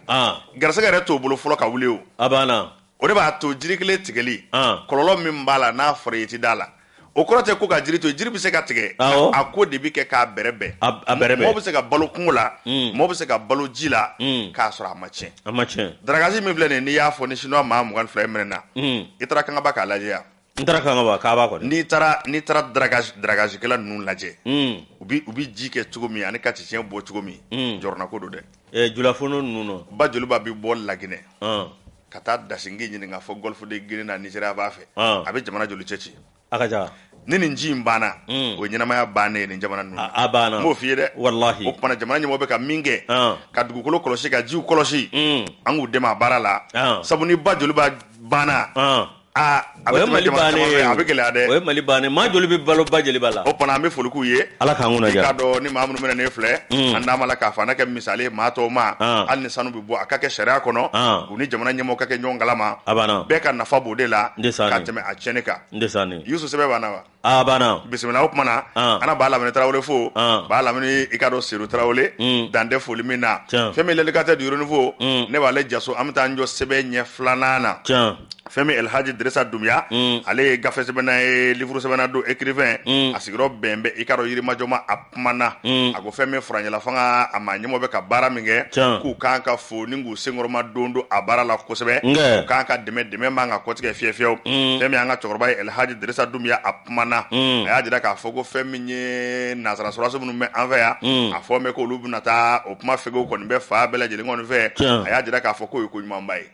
garisɛgɛ yɛrɛ t'o bolo fɔlɔ ka wuli o a banna o de b'a to jiri kelen tigɛli kɔlɔlɔ min b'a la n'a fɔra i tɛ d'a la o kɔrɔ tɛ ko ka jiri to jiri bɛ se ka tigɛ a ko de bɛ kɛ k'a bɛrɛbɛn mɔgɔ bɛ se ka balo kungo la mɔgɔ bɛ se ka balo ji la k'a sɔrɔ a ma tiɲɛ A ma tiɲɛ. Dragage min filɛ nin ye n'i y'a fɔ ni chinois maa mugan ni fila ye minɛna. Unhun. I taara Kangaba k'a lajɛ yan. N taara Kangaba, Kaaba kɔni. N'i taara n'i taara dragagekɛla ninnu lajɛ. Un. U bɛ u bɛ ji kɛ cogo min ani ka cɛncɛn bɔ cogo min. Un. Jɔrɔnako don dɛ. Ɛɛ Julafondo ninnu nɔ. Ba Joliba bɛ bɔ Laginɛ. Ɔn. Ka taa da sin Ginɛ n k'a fɔ Golfe de Guinee na Nigeria b'a fɛ. Ɔn. A bɛ jamana joli cɛci? a ka ca ni nin ji in banna mm. o ɲɛnamaya bannen ye nin jamana ninnu a banna n b'o f'i ye dɛ walahi o kama na jamana ɲɛmɔgɔ bɛ ka min kɛ ah. ka dugukolo kɔlɔsi ka jiw kɔlɔsi mm. an k'u dɛmɛ a baara la ah. sabu ni ba Joliba banna ah. aa a bɛ tɛmɛ jamana caman fɛ a bɛ gɛlɛya dɛ o ye mali bannen maa joli bɛ balo ba Jeliba la o kama na n bɛ foli k'u ye ala k'an kunna diya k'a dɔn ni maa minnu bɛna ne filɛ mm. an d'a ma la k'a fɔ an na kɛ misali ye maa tɔw ma hali ni sanu bɛ bɔ a ka kɛ sariya kɔnɔ u ni jamana ɲɛmɔgɔ ka kɛ ɲɔgɔn kalama a banna bɛɛ ka nafa b'o de la N de sane. ka tɛmɛ a tiɲɛni kan n de sanni yusu sɛbɛn banna wa a banna bisimila o tuma na An. an na ba lamini tarawele fo An. ba lamini i k'a dɔn seru tarawele Mm. dan tɛ foli min na Tiɲɛ. fɛn min l'indicateur du renouveau Mm. ne b'ale jaso an bɛ t'an jɔ sɛbɛn ɲɛ filanan na tiɲɛ fɛn min elhaji dirisa dunbiya Mm. ale ye gafe sɛbɛnna ye livuru sɛbɛnna don écrivain Mm. a sigiyɔrɔ bɛn bɛ i k'a dɔn yirimajɔ ma a kuma na mm. a ko fɛn min furancɛla fanga a ɲɛmɔgɔw bɛ ka baara min kɛ k'u kan ka fo ni k'u senkɔrɔma don don a baara la kosɛbɛ k'u kan ka dɛmɛ dɛmɛ man ka kɔtigɛ fiyewu fiyewu mm. fɛn min an ka cɛkɔrɔba ye elhaji dirisa dunbiya a kuma na mm. a y'a jira k'a fɔ ko fɛn min ye nanzara sɔrɔso minnu bɛ an fɛ yan a fɔ bɛ ko olu bɛna taa o kuma fɛw kɔni bɛ fan bɛɛ lajɛlen kɔni fɛ a y'a jira k'a fɔ k'o ye ko ɲumanba ye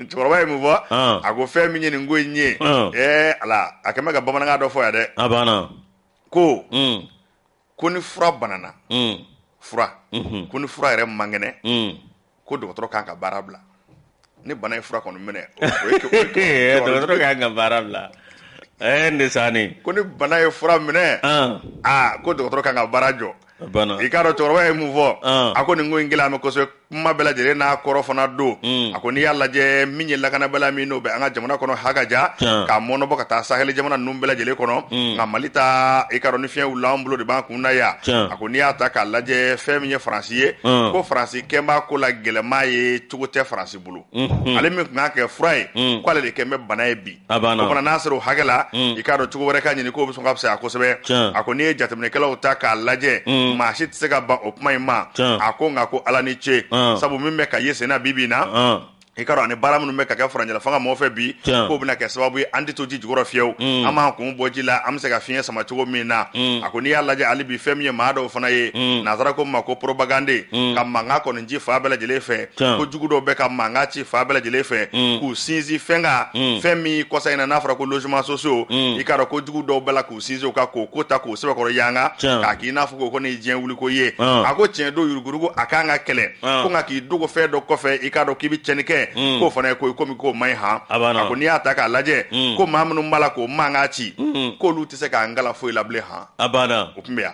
cɛkɔrɔba ye mun fɔ ah. a ko fɛn min ye nin ko in ye ah. a kɛn bɛ ka bamanankan dɔ fɔ yan dɛ ko mm. ko ni fura banana mm. fura mm-hmm. ko ni fura yɛrɛ man kɛnɛ mm. ko dɔgɔtɔrɔ kan ka baara bila ni bana ye fura kɔni minɛ dɔgɔtɔrɔ kan ka baara bila ɛɛ eh, n de sanni ko ni bana ye fura minɛ ah. aa ah, ko dɔgɔtɔrɔ kan ka baara jɔ i k'a dɔn cɛkɔrɔba ye mun fɔ ah. a ko nin ko in gɛlɛya bɛ kosɛbɛ kuma bɛɛ lajɛlen n'a kɔrɔ fana don hmm. a ko n'i y'a lajɛ min ye lakanabaliya min n'o bɛ an ka jamana kɔnɔ hakaja ah. k'a mɔnɔbɔ ka taa saheli jamana ninnu bɛɛ lajɛlen kɔnɔ hmm. nka mali ta i k'a dɔn ni fiɲɛ wulila an bolo de b'an kun na yan a ko n'i y'a ta k'a lajɛ fɛn min ye faransi ye ah. ko faransi kɛn b'a ko la gɛlɛma ye cogo tɛ faransi bolo hmm. ale min tun ka kɛ fura ye k'ale de kɛn bɛ bana ye bi A banna o fana n'a sera o hakɛ la mm. i k'a dɔn cogo wɛrɛ ka ɲini k'o bɛ sɔn ka fisaya kosɛbɛ a ko n'i ye jateminɛkɛlaw ta k'a lajɛ mm. maa si tɛ se ka ban o kuma in ma a ko nka ko ala ni ce ah. sabu min bɛ ka ye senna bi bi in na ah. i k'a dɔn ani baara minnu bɛ ka kɛ furancɛla fanga mɔgɔ fɛ bi k'o bɛna kɛ sababu ye an tɛ to ji jukɔrɔ fiyewu mm. an b'an kun bɔ ji la an bɛ se ka fiɲɛ sama cogo min na a ko n'i y'a lajɛ hali bi fɛn min ye maa dɔw fana ye nanzara ko min ma ko propagande ka mankan kɔni ci fan bɛɛ lajɛlen fɛ Tiɲɛ. ko jugu dɔw bɛ ka mankan ci fan bɛɛ lajɛlen fɛ k'u sinsin fɛn kan fɛn min kɔsa in na n'a fɔra ko logement sociaux i k'a dɔn ko jugu dɔw b'a la k'u sinsin o kan k'o ko ta k'o sɛbɛkɔrɔ yanga Tiɲɛ. k'a k'i n'a fɔ ko ko nin ye diɲɛ wuliko ye Ɔn. a ko tiɲɛ don yurugurugu a kan ka kɛlɛ Ɔn. ko nka k'i dogo fɛn dɔ kɔfɛ i k'a dɔn k'i bɛ tiɲɛni kɛ k'o fana ye ko ye komi k'o man ɲi han A b'a na. ko n'i y'a ta k'a lajɛ ko maa minnu b'a la k'o mankan ci k'olu tɛ se k'an kalan foyi la bilen han a banna o tun bɛ yan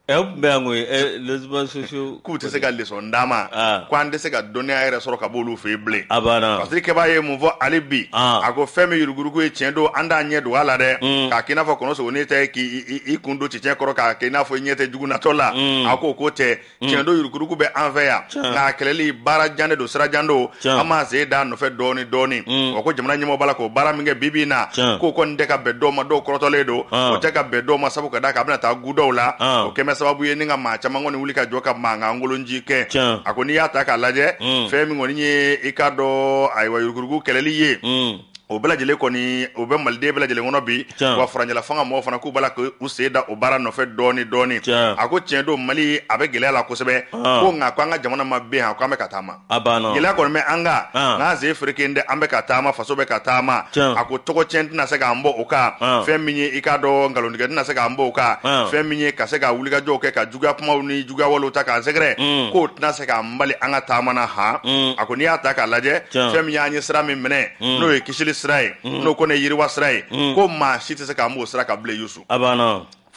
Ɛ o tun bɛ yan koyi ɛ les réseaux sociaux k'u tɛ se ka leçon d'an ma ah. ko an tɛ se ka dɔnniya yɛrɛ sɔrɔ ka b'olu fɛ yen bilen a banna parce que kɛba ye mun fɔ hali bi ah. a ko fɛn min yurugurugu ye tiɲɛ don an t'an ɲɛ dogo a la dɛ mm. k'a k'i n'a fɔ kɔnɔsogonin tɛ k'i kun don cɛncɛn kɔrɔ k'a kɛ i n'a fɔ i ɲɛ tɛ jugu natɔ la mm. a k'o ko tɛ mm. tiɲɛ don yurugurugu bɛ an fɛ yan nka a kɛlɛli baara jan de don sira jan don Tiɲɛ. an b'an sen da a nɔfɛ dɔɔni dɔɔni Mm. wa ko jamana ɲɛmɔgɔ b'a la k'o baara min kɛ bi bi in na Tiɲɛ. k'o kɔni tɛ ka bɛn dɔw ma dɔw kɔrɔtɔlen don Ah. o tɛ ka bɛn dɔw ma sabu ka d'a kan a bɛna taa gu dɔw la Ah. o kɛmɛ sababu ye ni ka maa caman kɔni wuli ka jɔ ka mankan kolonci kɛ Tiɲɛ. a ko n'i y'a ta k'a lajɛ Mm. fɛn min kɔni ye i k'a dɔn ayiwa yuruguyurugu kɛlɛli ye Mm. o bɛɛ lajɛlen kɔni o bɛ maliden bɛɛ lajɛlen kɔnɔ bi wa furancɛla fanga mɔgɔw fana k'u b'a la k'u sen da o baara nɔfɛ dɔɔni dɔɔni a ko tiɲɛ don mali a bɛ gɛlɛya la kosɛbɛ ko nka ko an ka jamana ma bin yan k' an bɛ ka taama gɛlɛya kɔni bɛ an kan'an sen fereke dɛ an bɛ ka taama faso bɛ ka taama a ko tɔgɔ cɛn tɛna se k'an bɔ o kan fɛn min ye i k'a dɔn nkalontigɛ tɛna se k'an bɔ o kan fɛn min ye ka se ka wulikajɔ kɛ ka juguya kumaw ni juguya walew ta k'an sɛgɛrɛ mm. k'o tɛna se k'an bali an ka taama na han mm. a ko n'i y'a ta k'a lajɛ fɛn min y'an ye sira min minɛ mm. n'o ye kisili sira ye n'o kɔni ye yiriwa sira ye ko maa si tɛ se k'an b'o sira kan bilen yusu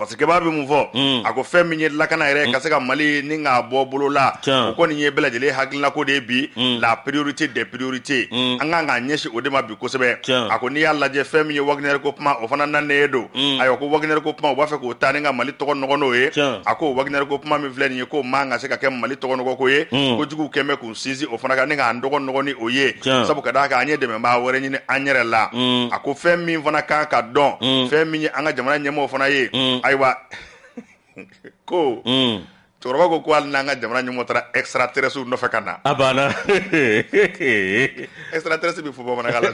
fasikɛba bɛ mun fɔ mm. a ko fɛn min ye lakana yɛrɛ mm. ka se ka mali ni k'a bɔ bolo la o kɔni ye bɛɛ lajɛlen hakilinako de ye bi mm. la priorité des priorités an kan k'an ɲɛsin o de ma bi kosɛbɛ a ko n'i y'a lajɛ fɛn min ye Wagner ko kuma o fana nanen don mm. ayiwa ko Wagner ko kuma u b'a fɛ k'o ta ni ka mali tɔgɔ nɔgɔ n'o ye a ko Wagner ko kuma min filɛ nin ye k'o man ka se ka kɛ mali tɔgɔnɔgɔko ye mm. ko juguw kɛmɛ k'u sinsin o fana kan ni k'an tɔgɔ nɔgɔ n'o ye sabu ka d'a kan an ye dɛmɛbaa wɛrɛ ɲini an yɛrɛ la mm. a ko fɛn min fana kan ka dɔn fɛn min ye an ka jamana ɲɛmɔgɔ fana ye ayiwa ko cɛkɔrɔba ko ko hali n'an ka jamana ɲɛmɔgɔ taara extraterrestre nɔfɛ ka na a banna extraterrestre bɛ fɔ bamanankan la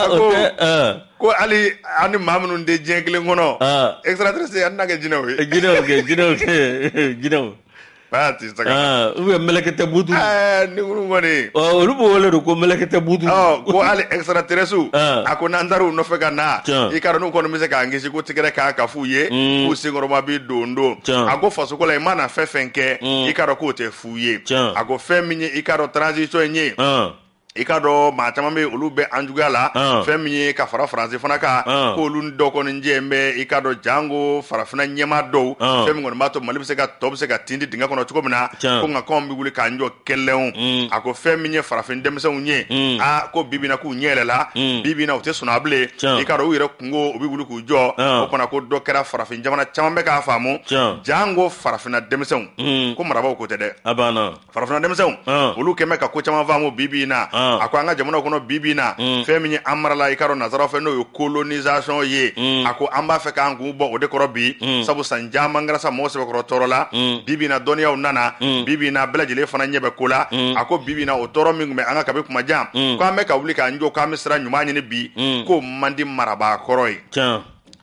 cogo ko hali an ni maa minnu tɛ diɲɛ kelen kɔnɔ extraterrestre an tɛna kɛ jinɛw ye jinɛw kɛ jinɛw kɛ jinɛw Aa tɛ saga Aa ou bien mɛlɛkɛtɛ buutu ɛɛ niguru kɔni ɔ olu b'o wele de ko mɛlɛkɛtɛ buutu ɔ ko hali extraterrestre u Aa a ko n'an taara u nɔfɛ ka na Tiɲɛ i k'a dɔn n'u kɔni bɛ se k'an kisi ko tigɛrɛ k'a ka fu ye Uun k'u senkɔrɔma bɛ dondon Tiɲɛ a ko faso ko la i mana fɛn fɛn kɛ Uun i k'a dɔn k'o tɛ fu ye Tiɲɛ a ko fɛn min ye i k'a dɔn transition in ye Ɔn i k'a dɔn maa caman bɛ olu bɛ an juguya la fɛn min ye ka fara faransi fana kan ko olu dɔ kɔni jɛlen bɛ i k'a dɔn janko farafinna ɲɛmaa dɔw fɛn min kɔni b'a to mali bɛ se ka tɔ bɛ se ka tindi dingɛ kɔnɔ cogo min na ko nka anw bɛ wuli k'an jɔ kɛlɛ a ko fɛn min ye farafin denmisɛnw ye aa ko bibi in na k'u ɲɛ yɛlɛla bibi in na u tɛ sunaa bilen i k'a dɔn u yɛrɛ kunko u bɛ wuli k'u jɔ o fana ko dɔ kɛra farafin jamana caman bɛ k'a faamu janko farafinna denmisɛnw ko marabaaw ko tɛ dɛ farafinna denmisɛnw olu kɛmɛ ka ko caman faamu bibi in na a ko an ka jamana kɔnɔ bibi in na fɛn min ye an marala i k'a dɔn nazaraw fɛ n'o ye colonisation ye a ko an b'a fɛ k'an kun bɔ o de kɔrɔ bi sabu san caman kɛra sa mɔgɔ sɛbɛkɔrɔ tɔɔrɔla bibi in na dɔnniyaw nana bibi in na bɛɛ lajɛlen fana ɲɛ bɛ ko la a ko bibi in na o tɔɔrɔ min tun bɛ an kan kabi kuma jan ko an bɛ ka wuli k'an jɔ k'an bɛ sira ɲuman ɲini bi k'o man di marabaa kɔrɔ ye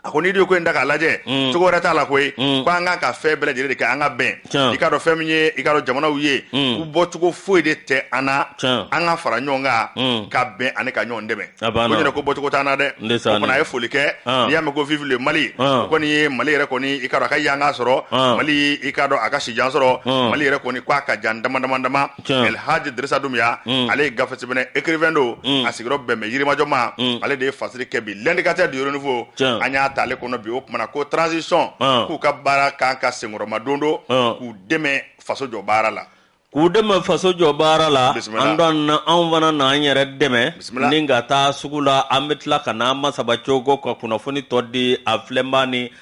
a ko n'i de ko in da k'a lajɛ mm. cogo wɛrɛ t'a la koyi mm. ko an kan ka fɛn bɛɛ lajɛlen de kɛ an ka bɛn i k'a dɔn fɛn min ye i k'a dɔn jamanaw ye mm. u bɔcogo foyi de tɛ an na an ka fara ɲɔgɔn kan ka bɛn ani ka ɲɔgɔn dɛmɛ ko ɲɛna ko bɔcogo t'an na dɛ o fana a ye foli kɛ ah. n'i y'a mɛn ko vive le mali o ah. kɔni ye mali yɛrɛ kɔni i k'a dɔn a ka yanga sɔrɔ ah. mali i k'a dɔn a ka sijan sɔrɔ mali yɛrɛ kɔni ko a ka jan dama dama dama El Hadj Dirisa Dumbia mm. ale ye gafe sɛbɛnna écrivain don mm. a sigiyɔrɔ bɛn bɛ Yirimajɔ ma mm. ale de ye fasiri kɛ bi l'indicateur du Renouveau an y'a ta ale kɔnɔ bi o kumana ko transition ah. k'u ka baara kan ka senkɔrɔmadondon ah. k'u dɛmɛ faso jɔ baara la k'u dɛmɛ faso jɔ baara la Antoine anw fana na an yɛrɛ dɛmɛ ni ka taa sugu la an bɛ tila ka n'an masaba cogo ka kunnafoni tɔ di a filɛnbaa ni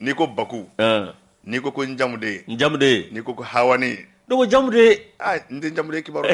N'i ko baku n'i ko ko n jamuden n jamuden n'i ko ko ha dogo jamuden n tɛ jamuden kibaru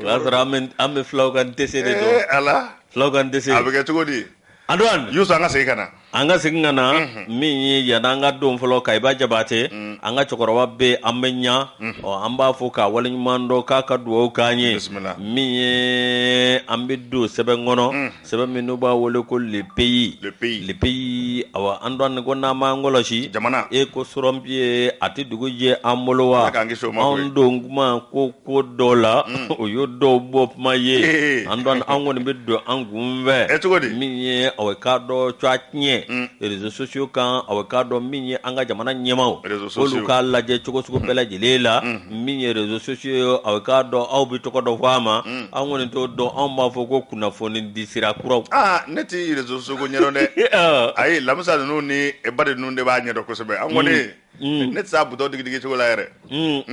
o'a sɔrɔ an bɛ fulaw ka dɛsɛse de don a la fulaw ka dɛsɛse a bɛ kɛ cogo di Antoine yo an ka segin ka na an ka segin ka na min ye yan an ka don fɔlɔ ka i ba Jabatɛ an ka cɛkɔrɔba bɛ an bɛ ɲɛ ɔ an b'a fo k'a waleɲuman dɔn k'a ka dugawu k'an ye min ye an bɛ don sɛbɛn kɔnɔ sɛbɛn min n'u b'a wele ko le pays le pays le pays awa Antoine ko n'an m'an kɔlɔsi jamana e ko sɔrɔ bi ye a tɛ dugu jɛ an bolo wa k'an kisi o ma koyi anw don kuma ko ko dɔ la o y'o dɔw bɔ kuma ye Antoine an kɔni bɛ don an kun fɛ ɛ cogo di min ye awa k'a dɔn tɔgɔtiɲɛ réseaux sociaux kan awa k'a dɔn min ye an ka jamana ɲɛmaw réseaux sociaux olu k'a lajɛ cogo sugu bɛɛ lajɛlen la min ye réseaux sociaux ye awa k'a dɔn aw bɛ tɔgɔ dɔ fɔ a ma an kɔni t'o dɔn anw b'a fɔ ko kunnafoni di sira kuraw aa ne tɛ réseaux sociaux ɲɛdɔn dɛ ayi Lamisa ninnu ni e ba de ninnu de b'a ɲɛdɔn kosɛbɛ an kɔni mm. mm. ne tɛ se bouton digidigi cogo la yɛrɛ mm.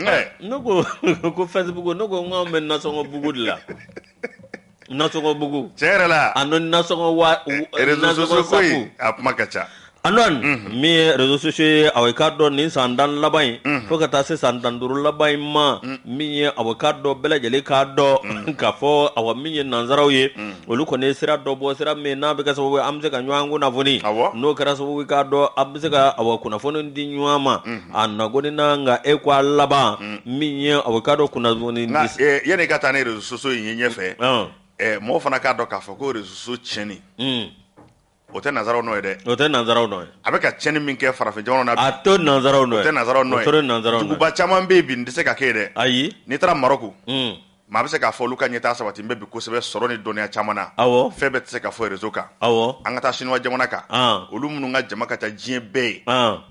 ne ko ko Facebook ne ko n k'anw bɛ nasɔngɔ bugu de la nasɔngɔ bugu tiɲɛ yɛrɛ la a n'o nasɔngɔ wa e, e, réseaux sociaux a kuma ka ca An min ye réseaux sociaux ye a ka dɔn nin san tan laban in fo ka taa se san tan duuru laban in ma min ye a ka dɔn bɛɛ lajɛlen k'a dɔn k'a fɔ a min ye nansaraw ye olu kɔni ye sira dɔ bɔ sira min n'a bɛ kɛ sababu an bɛ se ka ɲɔgɔn kunnafoni n'o kɛra sababu ka dɔn a bɛ se ka a kunnafoni di ɲɔgɔn ma a na ko n' ka e ko a laban min ye a ka dɔn kunnafoni yanni ka taa ni réseaux sociaux ye ɲɛfɛ mɔgɔ fana k'a dɔn k'a fɔ ko réseaux tiɲɛni O tɛ nansaraw nɔ ye dɛ o tɛ nansaraw nɔ ye a bɛ ka tiɲɛni min kɛ farafin jamana na a to nansaraw nɔ tɛ nansaraw nɔ ye nansara duguba caman bɛ bi nin tɛ se ka kɛ dɛ ayi n'i taara Maroc maa bɛ se k'a fɔ olu ka ɲɛ taa sabatilen bɛ kosɛbɛ sɔrɔ ni dɔnniya caman na awɔ fɛn bɛɛ tɛ se ka fɔ réseau kan awɔ an ka taa chinois jamana kan olu minnu ka jama ka ca diɲɛ bɛɛ ye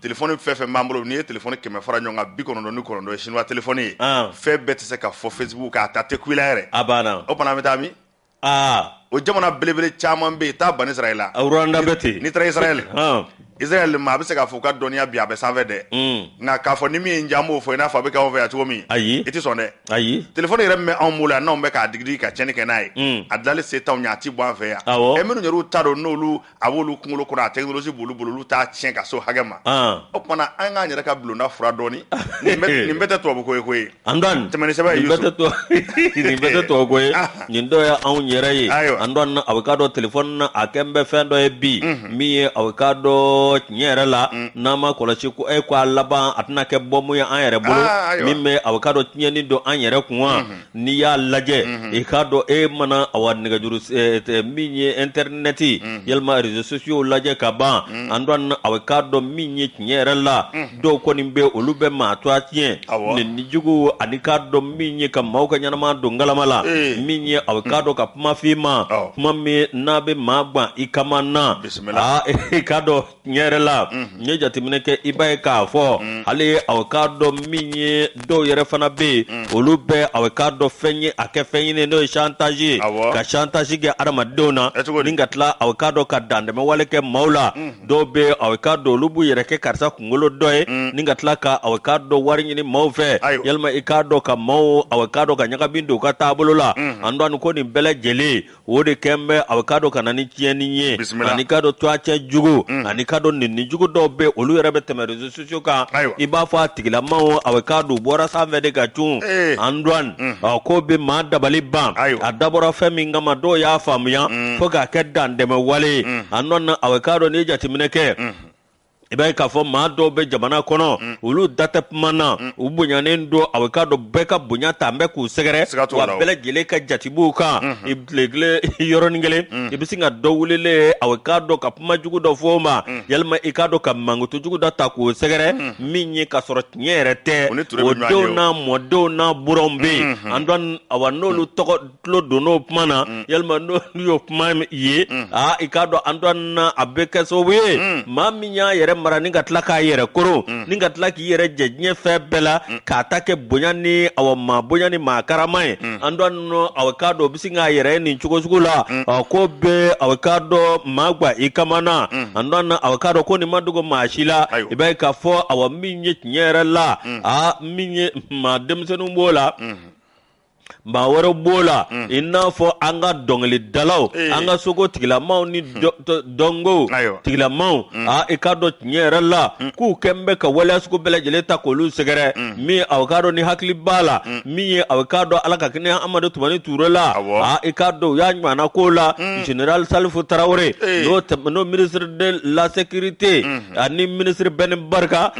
téléphone fɛn o fɛn b'an bolo n'i ye téléphone kɛmɛ fara ɲɔgɔn kan bi kɔnɔntɔn ni kɔnɔntɔn ye chinois téléphone ye fɛn bɛɛ tɛ se ka fɔ Facebook kan a ta tɛ kula yɛrɛ a banna o fana bɛ taa min o jamana belebele caman bɛ yen taa bani israɛl la rwanda bɛ ten n'i taara israɛl israɛl maa bɛ se k'a fɔ ka dɔnniya bi a bɛ sanfɛ dɛ mm. nka k'a fɔ ni min ye n jan b'o fɔ i n'a fɔ a bɛ k'anw fɛ yan cogo min ayi i tɛ sɔn dɛ ayi telefɔni yɛrɛ min bɛ anw bolo yan n'anw bɛ k'a digidigi ka tiɲɛni kɛ n'a ye mm. a dilali se t'anw ye a ti bɔ an fɛ yan awɔ ɛ minnu yɛrɛ ta don n'olu a b'olu kunkolo kɔnɔ a technologie b'olu bolo olu t'a tiɲɛ ka s'o hakɛ ma, an, o tuma na an k'an yɛrɛ ka bulonda furan dɔɔnin nin bɛɛ nin bɛɛ tɛ tubabu ko ye koyi, an dɔɔni, tɛmɛ ni sɛbɛn ye Yusu, nin bɛɛ tɛ tubabu nin bɛɛ tɛ tubabu ko ye, anhan, nin dɔ ye anw yɛrɛ ye, ayiwa, an dɔɔni na a bɛ k'a dɔn telefɔni na a kɛn bɛ fɛn dɔ ye bi min ye a bɛ k'a dɔn tiɲɛ yɛrɛ la n'an ma kɔlɔsi ko e ko a laban a tɛna kɛ bɔmu ye an yɛrɛ bolo, aa, ayiwa, min bɛ a bɛ k'a dɔn tiɲɛni don an yɛrɛ kun wa n'i y'a lajɛ i k'a dɔn e mana awa nɛgɛjuru min ye ɛntɛrinɛti yalima réseaux sociaux lajɛ ka ban an don a bɛ k'a dɔn min ye tiɲɛ yɛrɛ la dɔw kɔni bɛ olu bɛ maa tɔgɔ tiɲɛ neni jugu ani k'a dɔn min ye ka maaw ka ɲɛnama don galama la min ye a bɛ k'a dɔn ka kuma fɔ i ma kuma min n'a bɛ maa gan i kaman na bisimila i k'a dɔn yɛrɛ la n'i ye jateminɛ kɛ i b'a ye k'a fɔ hali a k'a dɔn min ye dɔw yɛrɛ fana bɛ yen olu bɛ a k'a dɔn fɛn ye a kɛ fɛn ɲini n'o ye chantage ye ka chantage kɛ adamadenw na ni ka tila a k'a dɔn ka dantɛmɛwale kɛ maaw la dɔw bɛ a k'a dɔn olu b'u yɛrɛ kɛ karisa kunkolo dɔ ye ni ka tila ka a k'a dɔn wari ɲini maaw fɛ yalima i k'a dɔn ka maaw a k'a dɔn ka ɲagami don u ka taabolo la an dɔn ko nin bɛɛ lajɛlen o de kɛn bɛ a k'a dɔn ka na ni tiɲɛni ye Bisimila. ani k'a dɔn tɔgɔtiɲɛ jugu ani k'a dɔn neni jugu dɔw bɛ olu yɛrɛ bɛ tɛmɛ réseaux sociaux kan Ayiwa. i b'a fɔ a tigilamaw a k'a dɔn bɔra sanfɛ de ka cun Ee. an duwan ɔ, ko bɛ maa dabali ban Ayiwa. a dabɔra fɛn min kama dɔw y'a faamuya fo k'a kɛ dantɛmɛ wale ye an dɔ na a k'a dɔn n'i ye jateminɛ kɛ i b'a ye k'a fɔ maa dɔw bɛ jamana kɔnɔ mm. olu da tɛ kuma na mm. u bonyanen don a bɛ k'a dɔn bɛɛ ka bonya tan bɛ k'u sɛgɛrɛ wa bɛɛ lajɛlen ka jate b'u kan mm-hmm. i tilegile yɔrɔnin kelen mm. i bɛ sin ka dɔ wulilen a bɛ k'a dɔn ka kuma jugu dɔ fɔ o ma yalima i k'a dɔn ka mankutu jugu dɔ ta k'o sɛgɛrɛ min ye k'a sɔrɔ tiɲɛ yɛrɛ tɛ o denw n'a mɔdenw n'a buranw bɛ yen mm-hmm. an dɔn awa n'olu tɔgɔ tulo don o kuma na mm. yalima n'o y'o kuma ye mm. aa i k'a dɔn an dɔ na a bɛ kɛ sababu ye mm. maa min y'a yɛrɛ mara ni ka tila k'a yɛrɛ koron ni ka tila k'i yɛrɛ jɛ diɲɛ fɛn bɛɛ la k'a ta kɛ bonya ni awa maa bonya ni maa karama ye an dɔ na awa k'a dɔn o bɛ se k'a yɛrɛ ye nin cogo sugu la ɔ ko bɛ awa k'a dɔn maa gan i kaman na an dɔ na awa k'a dɔn ko nin ma dogo maa si la i b'a ye k'a fɔ awa min ye tiɲɛ yɛrɛ la aa min ye maa denmisɛnninw b'o la maa wɛrɛ b'o la mm. i n'a fɔ an ka dɔnkilidalaw eh. an ka seko tigilamaw ni hmm. dɔnko tigilamaw hmm. a i k'a dɔn tiɲɛ yɛrɛ la hmm. k'u kɛn bɛ ka waleya sugu bɛɛ lajɛlen ta k'olu sɛgɛrɛ min aw k'a dɔn ni hakili b'a la min ye aw k'a dɔn ala ka hinɛ amadu tumani ture la a i k'a dɔn u y'a ɲɔgɔnna ko la général salifu tarawele eh. n'o ministre de la sécurité ani ministre ben barka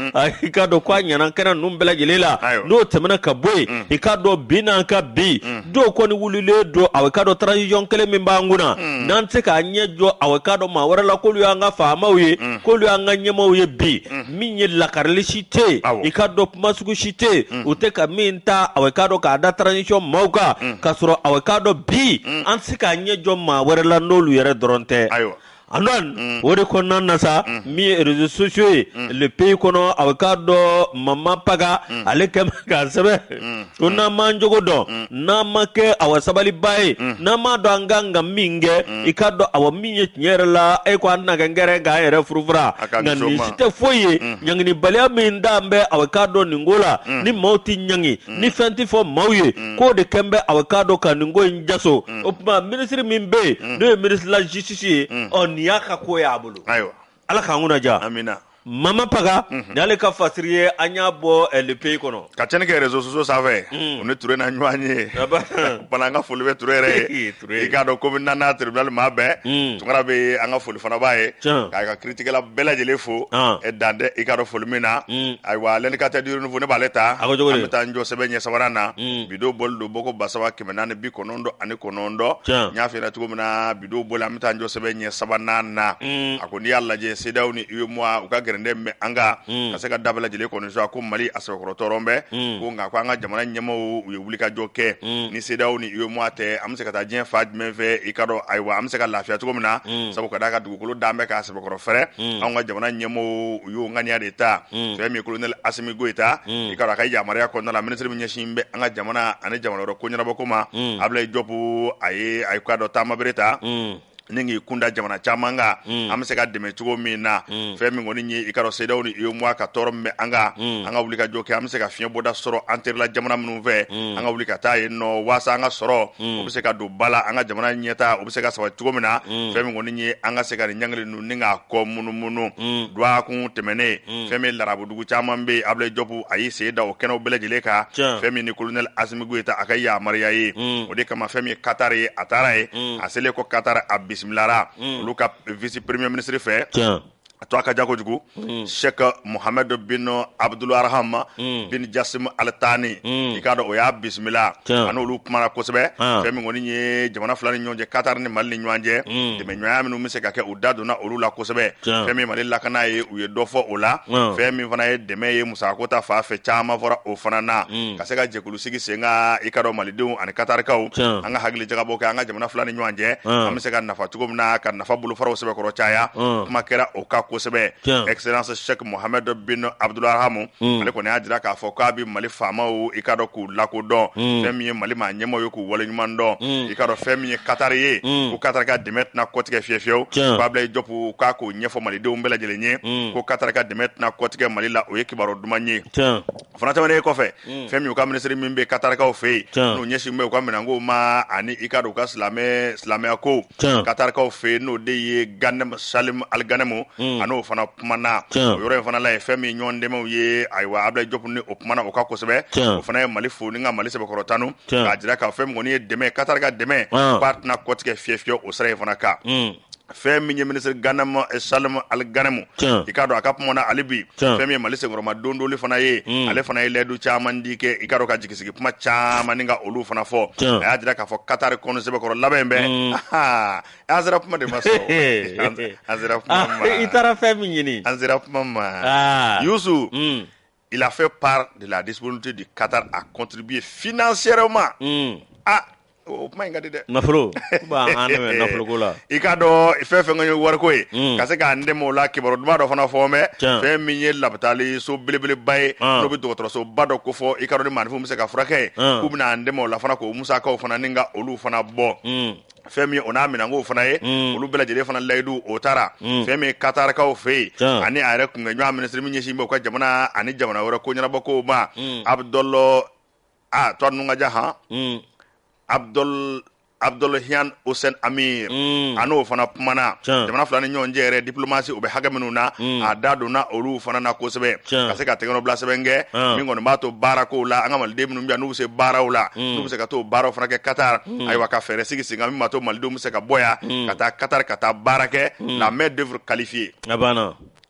i k'a dɔn k'a ɲana kɛnɛ ninnu bɛɛ lajɛlen la n'o tɛmɛna ka bɔ yen i k'a dɔn bi n'an ka bi do kɔni wulilen don aw k'a dɔn transition kelen min b'an kunna n'an tɛ se k'a ɲɛ jɔ aw k'a dɔn maa wɛrɛ la k'olu y'an ka faamaw ye k'olu y'an ka ɲɛmaaw ye bi min ye lakarili si tɛ yen i k'a dɔn kuma sugu si tɛ yen u tɛ ka min ta aw k'a dɔn k'a da transition maaw kan k'a sɔrɔ aw k'a dɔn bi an tɛ se k'a ɲɛ jɔ maa wɛrɛ la n'olu yɛrɛ dɔrɔn tɛ A mm. o de kɔnɔna na sa mm. min ye réseaux sociaux ye mm. le pays kɔnɔ aw k'a dɔn mama paga ale kɛn bɛ k'a sɛbɛn ko n'an m'an jogo dɔn n'an ma kɛ awa sabaliba ye n'an m'a dɔn an kan ka min kɛ i k'a dɔn awa min ye tiɲɛ yɛrɛ la e ko an na kɛ n kɛrɛ k'an yɛrɛ furufura nka nin si tɛ foyi ye ɲanginibaliya min dan bɛ aw k'a dɔn nin ko la ni maaw tɛ ɲangi mm. ni fɛn tɛ fɔ maaw ye mm. k'o de kɛn bɛ aw k'a dɔn ka nin ko in jaso mm. o tuma ministre min bɛ yen n'o ye ministre de la justice ye ɔ nin y'a ka ko ye a bolo ala k'an kunna ja amina mama paga mhm. ni ale ka fasiri ye an y'a bɔ eh, le pays kɔnɔ ka cɛnni kɛ réseaux sociaux sanfɛ o ni ture na ɲɔgɔn ye bana an ka foli bɛ ture yɛrɛ ye Toure i k'a dɔn commune naaninan tribunal maa bɛɛ mm. tunkara bɛ an ka foli fana b'a ye k'a ka kiritigɛla bɛɛ lajɛlen fo ah. eh, dan tɛ i k'a dɔn foli min na mm. ayiwa l'indicateur du renouveau ne b'ale ta an bɛ taa n jɔ sɛbɛn ɲɛ sabanan na mm. bi don bɔli don bɔko ba saba kɛmɛ naani bi kɔnɔntɔn ani kɔnɔntɔn n y'a f'i ɲɛna cogo min na bi don bɔli an bɛ taa n jɔ sɛbɛn ɲɛ sabanan na a ko n'i y'a lajɛ cedeao ni uemoa u ka gɛrɛndɛ bɛ an kan ka se ka da bɛɛ lajɛlen kɔni sɔnna ko mali a sɛbɛkɔrɔ tɔɔrɔ bɛ ko nka ko an ka jamana ɲɛmɔgɔw wulikajɔ kɛ mm. ni cedeao ni uemoa tɛ an bɛ se ka taa diɲɛ fan jumɛn fɛ i k'a dɔn ayiwa an bɛ se ka lafiya cogo min na mm. sabu ka d'a kan dugukolo dan bɛ k'a sɛbɛkɔrɔ fɛrɛ mm. an ka jamana ɲɛmɔgɔw y'o ŋaniya de ta fɛn min ye kolonɛli asimi goyita i k'a dɔn a ka yamaruya kɔnɔna la ministre min ɲɛsin bɛ an ka jamana ani jamana wɛrɛ ko ɲɛnabɔ ko ma abulayi jɔpu a ye a ye k'a dɔn taamabere ta ni k'i kunda jamana caman kan mm. an bɛ se ka dɛmɛ cogo min na mm. fɛn min kɔni ye i k'a dɔn cedeao ni uemoa ka tɔɔrɔ min bɛ an kan mm. an ka wulikajɔ kɛ an bɛ se ka fiɲɛ bɔda sɔrɔ an terila jamana minnu fɛ an ka wuli ka taa yen nɔ waasa an ka sɔrɔ o bɛ se ka don ba la an ka jamana ɲɛtaa o bɛ se ka sabati cogo min na fɛn min kɔni ye an ka se ka nin ɲangili ni k'a kɔ munumunu mm. dɔgɔkun tɛmɛnen mm. fɛn min larabudugu caman bɛ abulayi jɔpu a y'i sen da o kɛnɛw bɛɛ lajɛlen kan fɛn min ni kolonɛli asimi goyita a ka yamaruya ye mm. o de kama fɛn min ye katari ye a taara yen a selen kɔ katari a bisimilara olu ka vice premier ministre fɛ a tɔgɔ ka jan kojugu mm. sɛki muhamadu bin abudul arahama mm. bin jasimu alitani mm. i k'a dɔn o y'a bisimila a n'olu kumana kosɛbɛ fɛn min kɔni ye jamana fila ni ɲɔgɔn cɛ Qatar ni Mali ni ɲɔgɔn cɛ dɛmɛɲɔgɔnya minnu bɛ se ka kɛ u da donna olu la kosɛbɛ fɛn min Mali lakana ye u ye dɔ fɔ o la fɛn min fana ye dɛmɛ ye musakako ta fan fɛ caman fɔra o fana na ka se ka jɛkulu sigi sen kan i k'a dɔn Malidenw ani Qatarikaw an ka hakili jagabɔ kɛ an ka jamana fila ni ɲɔgɔn cɛ an bɛ se ka nafa cogo min na ka nafa bolofaraw sɛbɛkɔrɔ caya kuma kɛra o kan kosɛbɛ Excellence Cheick Mohamed bin Abdulrahman ale kɔni y'a jira k'a fɔ k'a bɛ Mali faamaw i k'a dɔn k'u lakodɔn mm. fɛn min ye mali maa ɲɛmaaw ye k'u wale ɲuman dɔn mm. i k'a dɔn fɛn min ye katari ye mm. ko katari ka dɛmɛ tɛna kɔtigɛ fiye fiyewu ko abilayi jɔpu k'a k'o ɲɛfɔ malidenw bɛɛ lajɛlen ye mm. ko katari ka dɛmɛ tɛna kɔtigɛ mali la o ye kibaru duman ye fana tɛmɛnen kɔfɛ mm. fɛn min u ka minisiri min bɛ katarikaw fɛ yen n'o ɲɛsin bɛ u ka minɛnko ma ani i k'a dɔn u ka silamɛya ko katarikaw fɛ yen n'o de ye ganɛmu salim aliganɛmu mm. a n'o fana kumana o yɔrɔ in fana la ye fɛn min ɲɔgɔn dɛmɛw ye ayiwa abilayi jɔpu ni o kumana o kan kosɛbɛ o fana ye mali fo ni ka mali sɛbɛkɔrɔ tanu k'a jira k'a fɛn min kɔni ye dɛmɛ katari ka dɛmɛ k'a tɛna kɔtigɛ fiyewu o sira in fana kan fɛn min ye minisiri ganɛmu salim ali ganɛmu i k'a dɔn a ka kuma na ale bi fɛn min ye mali senkɔrɔmadondon fana ye ale fana ye layidu caman di kɛ i k'a dɔn ka jigi sigi kuma caman ni ka olu fana fɔ a y'a jira k'a fɔ katari kɔni sɛbɛkɔrɔ labɛnnen bɛ an sera kuma de ma sɔrɔ An sera- an sera kuma Ah, ma i taara fɛn min ɲini an sera kuma ma Ah. Youssou Mm, il a fait part de la disponibilité du Qatar à contribuer financièrement mm. ah o kuma in ka di dɛ nafolo b'an dɛmɛ nafoloko la i k'a dɔn fɛn fɛn ka ye wariko ye Mm. ka se k'an dɛmɛ o la kibaru duman dɔ fana fɔ mɛ Tiɲɛ. fɛn min ye labitali so belebeleba ye Ah. n'o bɛ dɔgɔtɔrɔsoba dɔ ko fɔ i k'a dɔn ni maanifinw bɛ se ka furakɛ yen Ah. k'u bɛna an dɛmɛ o la fana k'o musakaw fana ni ka olu fana bɔ Mm, fɛn min o n'a minɛnkow fana ye mm. olu bɛɛ lajɛlen fana layidu o tara mm. fɛn min katarikaw fɛ yen ani a yɛrɛ kunkɛɲɔgɔn minisiri min ɲɛsin bɛ u ka jamana ani jamana wɛrɛ ko ɲɛnabɔkow ma mm. abudɔlɔ a tɔgɔ ninnu ka jan han abudɔl abdulahian osen amir mm. a n'o fana kumana jamana fila ni ɲɔgɔn cɛ yɛrɛ diplomasi o bɛ hakɛ minnu na mm. a da donna olu fana na kosɛbɛ ka se ka tɛgɛnɔbila sɛbɛn kɛ ah. min kɔni b'a to baara kow la an ka maliden minnu bɛ yan n'u bɛ se baaraw la mm. n'u bɛ se ka t'o baaraw fana kɛ katar mm. ayiwa ka fɛɛrɛ sigi sen kan min b'a to malidenw bɛ se ka bɔ yan mm. ka taa katari ka taa baara kɛ mm. la main d'œuvre qualifiée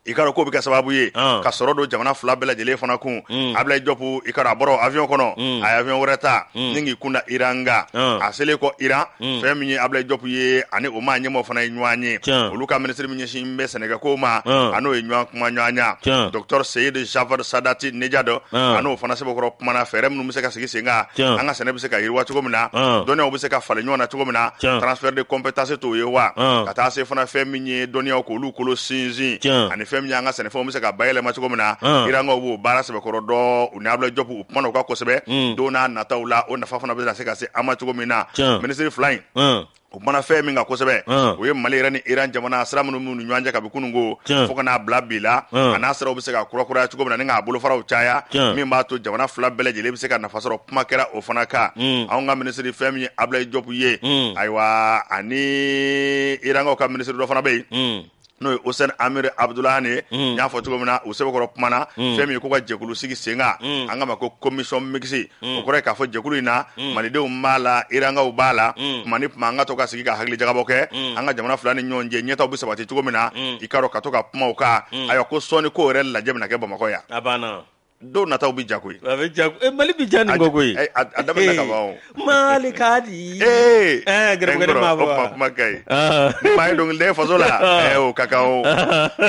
i k'a dɔn k'o bɛ kɛ sababu ye ah. ka sɔrɔ don jamana fila bɛɛ lajɛlen fana kun mm. abilayi jɔpu i k'a dɔn a bɔra avion kɔnɔ mm. a ye avion wɛrɛ ta mm. ni k'i kunda iran kan ah. a selen kɔ iran fɛn min ye abilayi jɔpu ye ani o maa ɲɛmaaw fana ye ɲɔgɔn ye olu ka minisiri min ɲɛsin min ɲɛsin bɛ sɛnɛkɛ ko ma n'o ye ɲɔgɔn kumaɲɔgɔnya docteur Seyed Jafar Sadati Nejad a n'o fana sɛbɛkɔrɔ kumana fɛɛrɛ minnu bɛ se ka sigi sen kan an ka sɛnɛ bɛ se ka yiriwa cogo min na dɔnniyaw bɛ se ka falen ɲɔgɔn na cogo min na transfert de compétence t' o ye wa ka taa se fana fɛn min ye dɔnniyaw k'olu kolo sinsin ani fɛn min y' an ka sɛnɛfɛnw bɛ se ka bayɛlɛma cogo min na irankaw b'o baara sɛbɛkɔrɔ dɔn u ni Ablaye Diop u kumana o kan kosɛbɛ don nataw la o nafa fana bɛ se ka se an ma cogo min na minisiri fila in u kumana fɛn min kan kosɛbɛ o ye mali yɛrɛ ni iran jamana sira minnu b'u ni ɲɔgɔn cɛ kabi kunun ko fo ka n'a bila bi la a n'a siraw bɛ se ka kurakuraya cogo min na ni k'a bolofaraw caya min b'a to jamana fila bɛɛ lajɛlen bɛ se ka nafa sɔrɔ kuma kɛra o fana kan anw ka minisiri fɛn min ye Ablaye Diop ye ayiwa ani irankaw ka minisiri dɔ fana bɛ yen n'o ye Hussein Amir Abdoulahan ye n y'a fɔ cogo min na u sɛbɛkɔrɔ kumana fɛn min ye ko ka jɛkulu sigi sen kan an k'a ma ko commission mixte o kɔrɔ ye k'a fɔ jɛkulu in na malidenw b'a la irankaw b'a la tuma ni tuma an ka to ka sigi ka hakilijagabɔ kɛ an ka jamana fila ni ɲɔgɔn cɛ ɲɛtaw bɛ sabati cogo min na i k'a dɔn ka to ka kuma o kan ayiwa ko sɔɔni ko yɛrɛ lajɛ bɛna kɛ Bamakɔ yan don nataw bɛ ja koyi mali bɛ ja nin ko koyi mali ka di g kumakɛ ye ba ye dɔnkiliden faso la ka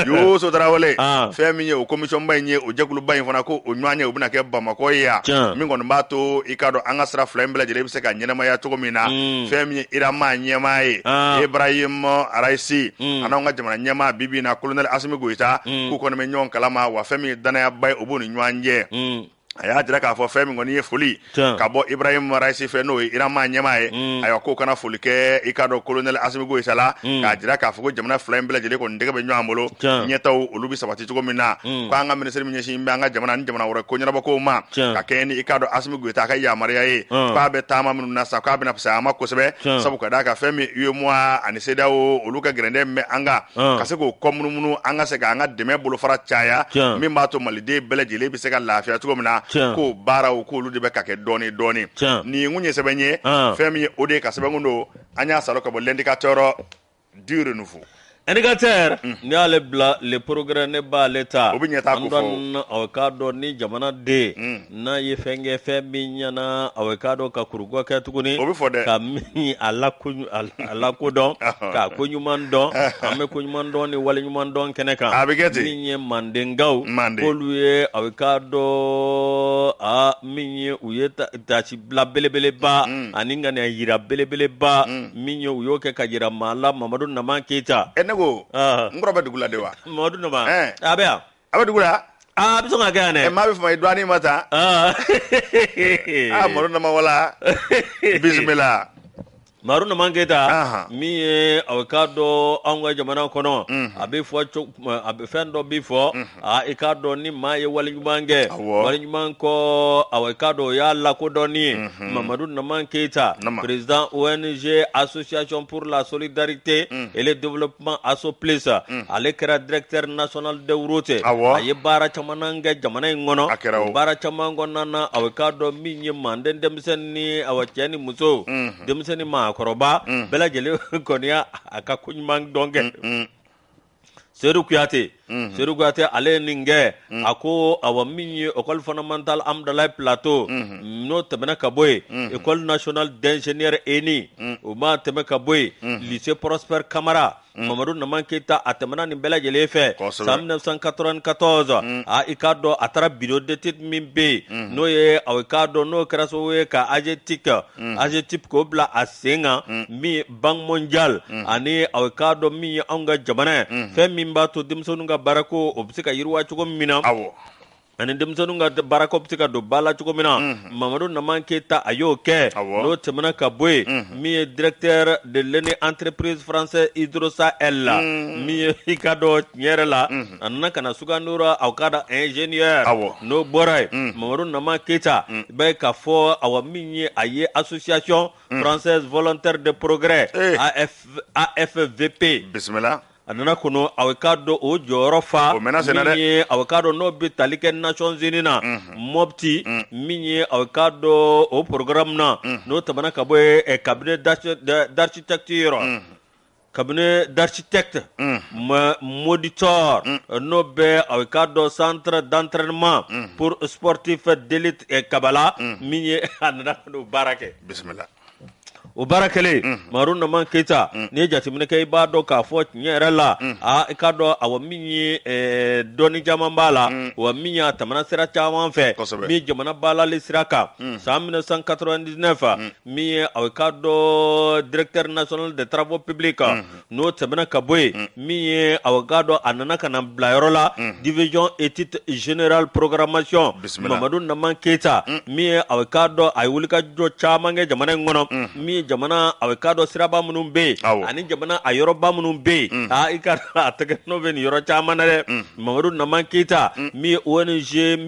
Yoso Tarawele fɛn min ye o commission ba in ye o jɛkuluba in fana ko o ɲɔgɔnye o bɛna kɛ bamakɔ ye yan min kɔni b'a to i k'a dɔn an ka sira fila in bɛɛ lajɛlen bɛ se ka ɲɛnamaya cogo min na fɛn min ye Iran maa ɲɛmaa ye Ibrahim Raisi an'anw ka jamana ɲɛmaa bi bi in na kolonɛli Asimi Goita k'u kɔni bɛ ɲɔgɔn kalama wa fɛn min ye danayaba ye o b'u ni ɲɔgɔn cɛ a y'a jira k'a fɔ fɛn min kɔni ye foli ka bɔ Ibrahim Raisi fɛ n'o ye Iran maa ɲɛmaa ye ayiwa k'o ka na foli kɛ i k'a dɔn kolonɛli Asimi Goita la k'a jira k'a fɔ ko jamana fila in bɛɛ lajɛlen kɔni tɛgɛ bɛ ɲɔgɔn bolo ɲɛtaw olu bɛ sabati cogo min na k' an ka minisiri min ɲɛsin bɛ an ka jamana ni jamana wɛrɛ ko ɲɛnabɔ ma ka kɛɲɛ ni i k'a dɔn Asimi Goita a ka yamaruya ye k'a bɛ taama minnu na sa k'a bɛna fisaya an ma kosɛbɛ sabu ka d'a kan fɛn min UEMOA ani CEDEAO olu ka gɛrɛntɛ bɛ an kan Ɔn. ka se k'o kɔ munumunu an ka se ka an ka dɛmɛ bolofara caya Tiɲɛ. min b'a to maliden bɛɛ lajɛlen bɛ se ka lafiya cogo min na Tiɲɛ. k'o baaraw k'olu de bɛ ka kɛ dɔɔni dɔɔni Tiɲɛ. nin ye n kun ye sɛbɛn ye Ɔn. fɛn min ye o de ye ka sɛbɛn kun don an y'a salo ka bɔ l'indicateur du renouveau indicateur n'i y'ale bila le progrès ne b'ale ta O bɛ ɲɛtaa ko fɔ. An dɔn- ɔ, k'a dɔn ni jamana den N'a ye fɛn kɛ fɛn min ɲɛna a k'a dɔn ka kurubɛ kɛ tuguni o bɛ fɔ dɛ ka min a lakodɔn ka ko ɲuman dɔn an bɛ ko ɲuman dɔn ni wale ɲuman dɔn kɛnɛ kan a bɛ kɛ ten min ye mandenkaw k'olu ye aw k'a dɔn aa min ye u ye taasibila belebeleba ani kanuya jira belebeleba min ye u y'o kɛ ka jira maa la mamadu naman keyita e ne ko n kɔrɔ bɛ dugu la de wa mamadu naman a bɛ yan a bɛ dugu la aa a bɛ sɔn ka kɛ yan dɛ ɛ maa bɛ fama i dɔɔnin ma ta aa aa mamadu naman wala bisimila mamadu naman keyita Ahan. min ye a bɛ k'a dɔn anw ka jamana kɔnɔ a bɛ fɔ co- a bɛ fɛn dɔ bɛ fɔ a i k'a dɔn ni maa ye wale ɲuman kɛ Awɔ. wale ɲuman kɔ a i k'a dɔn o y'a lakodɔnni ye mamadu naman keyita Nama. président ong association pour la solidarité et le développement Kuma asso plus ale kɛra directeur national de route a ye baara caman kɛ jamana in kɔnɔ baara caman kɔnɔna na a bɛ k'a dɔn min ye manden denmisɛnnin ni a cɛ ni muso denmisɛnnin maakɔrɔba bɛɛ lajɛlen kɔni y'a ka ko ɲuman dɔn kɛ seyidu kuyate Mm-hmm. Seydou Kuyate ale ye nin kɛ mm. a ko awa min ye école fondamentale Hamdallaye plateau mm-hmm. n'o tɛmɛna ka bɔ yen mm-hmm. école nationale d'ingénieur ENI mm. o ma tɛmɛ ka bɔ yen mm. lycée Prosper Kamara Mm. mamadu naman keyita a tɛmɛna nin bɛɛ lajɛlen fɛ san 1994 mm. a i k'a dɔn a taara bureau d'étude min bɛ yen mm. n'o ye aw i k'a dɔn n'o kɛra sababu ye ka agetic agetipe k'o bila a sen kan min banque mondiale ani a k'a dɔn min ye anw ka jamana fɛn min b'a to denmisɛnnin ka baara ko o bɛ se ka yiriwa cogo min na aw ani denmisɛnnin ka baara ko bɛ se ka don ba la cogo min na mamadu naman keyita a y'o kɛ n'o tɛmɛna ka bɔ yen min ye directeur d'une entreprise française Hydrosahel la min ye i ka dɔn tiɲɛ yɛrɛ la a nana ka na sugandi aw k'a dɔn ingénieur n'o bɔra yen mamadu naman keyita i bɛ ka fɔ a min ye a ye association française volontaire de progrès Eh. AF, AFVP bisimila a nana ka n'o a bɛ k'a dɔn o jɔyɔrɔ fa O mɛna senna dɛ. min ye a bɛ k'a dɔn n'o bɛ tali kɛ Nations Unies na Mopti min ye a bɛ k'a dɔn o programme na n'o tɛmɛna ka bɔ yen eh, cabinet d'archi- d'architecture cabinet d'architecte modulor n'o bɛ a bɛ k'a dɔn centre d'entraînement pour sportif d'élite kabala min ye a nana ka n'o baara kɛ bisimila o baara kɛlen mamadu naman keyita n'i ye jateminɛ kɛ i b'a dɔn k'a fɔ tiɲɛ yɛrɛ la aa i k'a dɔn a min ye dɔnni caman b'a la wa min ye a tɛmɛna sira caman fɛ min jamana balali sira kan san 1999 min ye aw k'a dɔn directeur national de travaux publics kan n'o tɛmɛna ka bɔ yen min ye aw ka dɔn a nana ka na bila yɔrɔ la division étude générale programmation Bisimila. mamadu naman keyita min ye aw ka dɔn a ye wulikajɔ caman kɛ jamana in kɔnɔ min ye jamana aw ka dɔn siraba minnu bɛ Awɔ. yen ani jamana a yɔrɔba minnu bɛ yen aa i ka dɔn a tɛgɛnɔ bɛ nin yɔrɔ caman na dɛ mamadu naman keyita min ye ong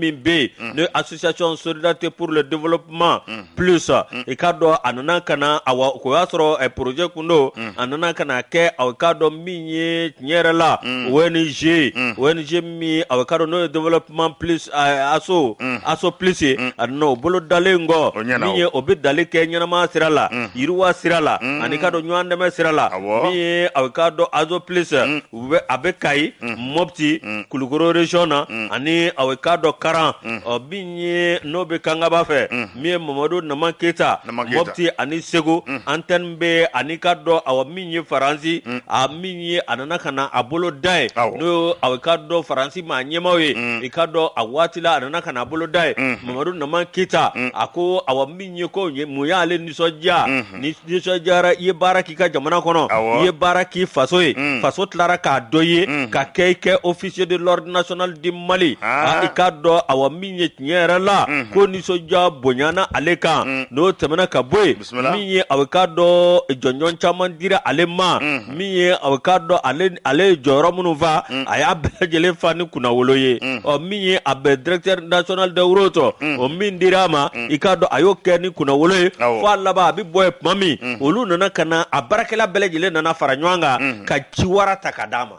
min bɛ yen n'o ye association solidarité pour le développement plus mm. i k'a dɔn a nana ka na awa k'o y'a sɔrɔ eh, projet kun don mm. a nana ka na kɛ aw k'a dɔn min ye tiɲɛ yɛrɛ la mm. ONG mm. ONG min aw k'a dɔn n'o ye développement plus eh, aso mm. aso plus ye mm. a nana o bolo dalen kɔ min ye o bɛ dali kɛ ɲɛnamaya sira la mm. yiriwa sira la mm. ani k'a dɔn ɲɔgɔn dɛmɛ sira la min ye aw k'a dɔn azo plus mm. u bɛ a bɛ kayi mɔpti kulukoro région na ani aw k'a dɔn karan ɔ min ye n'o bɛ kangaba fɛ min ye mamadu naman keyita mɔpti ani segu antɛni bɛ an'i k'a dɔn awa min ye faransi a min ye a nana ka na a bolo da yen n'o aw k'a dɔn faransi maa ɲɛmaaw ye i k'a dɔn a waati la a nana ka na a bolo da yen mamadu naman keyita a ko awa min ye ko mun y'ale nisɔndiya ni nisɔndiyara i ye baara k'i ka jamana kɔnɔ i ye baara k'i faso ye faso tilara k'a dɔn i ye ka kɛ i kɛ officier de l'ordre national du Mali i k'a dɔn awa min ye tiɲɛ yɛrɛ la ko nisɔndiya bonyana ale kan n'o tɛmɛna ka bɔ yen min ye aw k'a dɔn jɔnjɔn caman dira ale ma. min ye aw k'a dɔn ale ye jɔyɔrɔ minnu fa mm. a y'a bɛɛ lajɛlen fa ni kunnawolo ye mm. ɔ min ye a bɛ directeur national des routes mm. o min dira a ma i k'a dɔn a y'o kɛ ni kunnawolo ye fo a laban a bɛ bɔ yen tuma min olu nana ka na a baarakɛla bɛɛ lajɛlen nana fara ɲɔgɔn kan ka ciwara ta ka d'a ma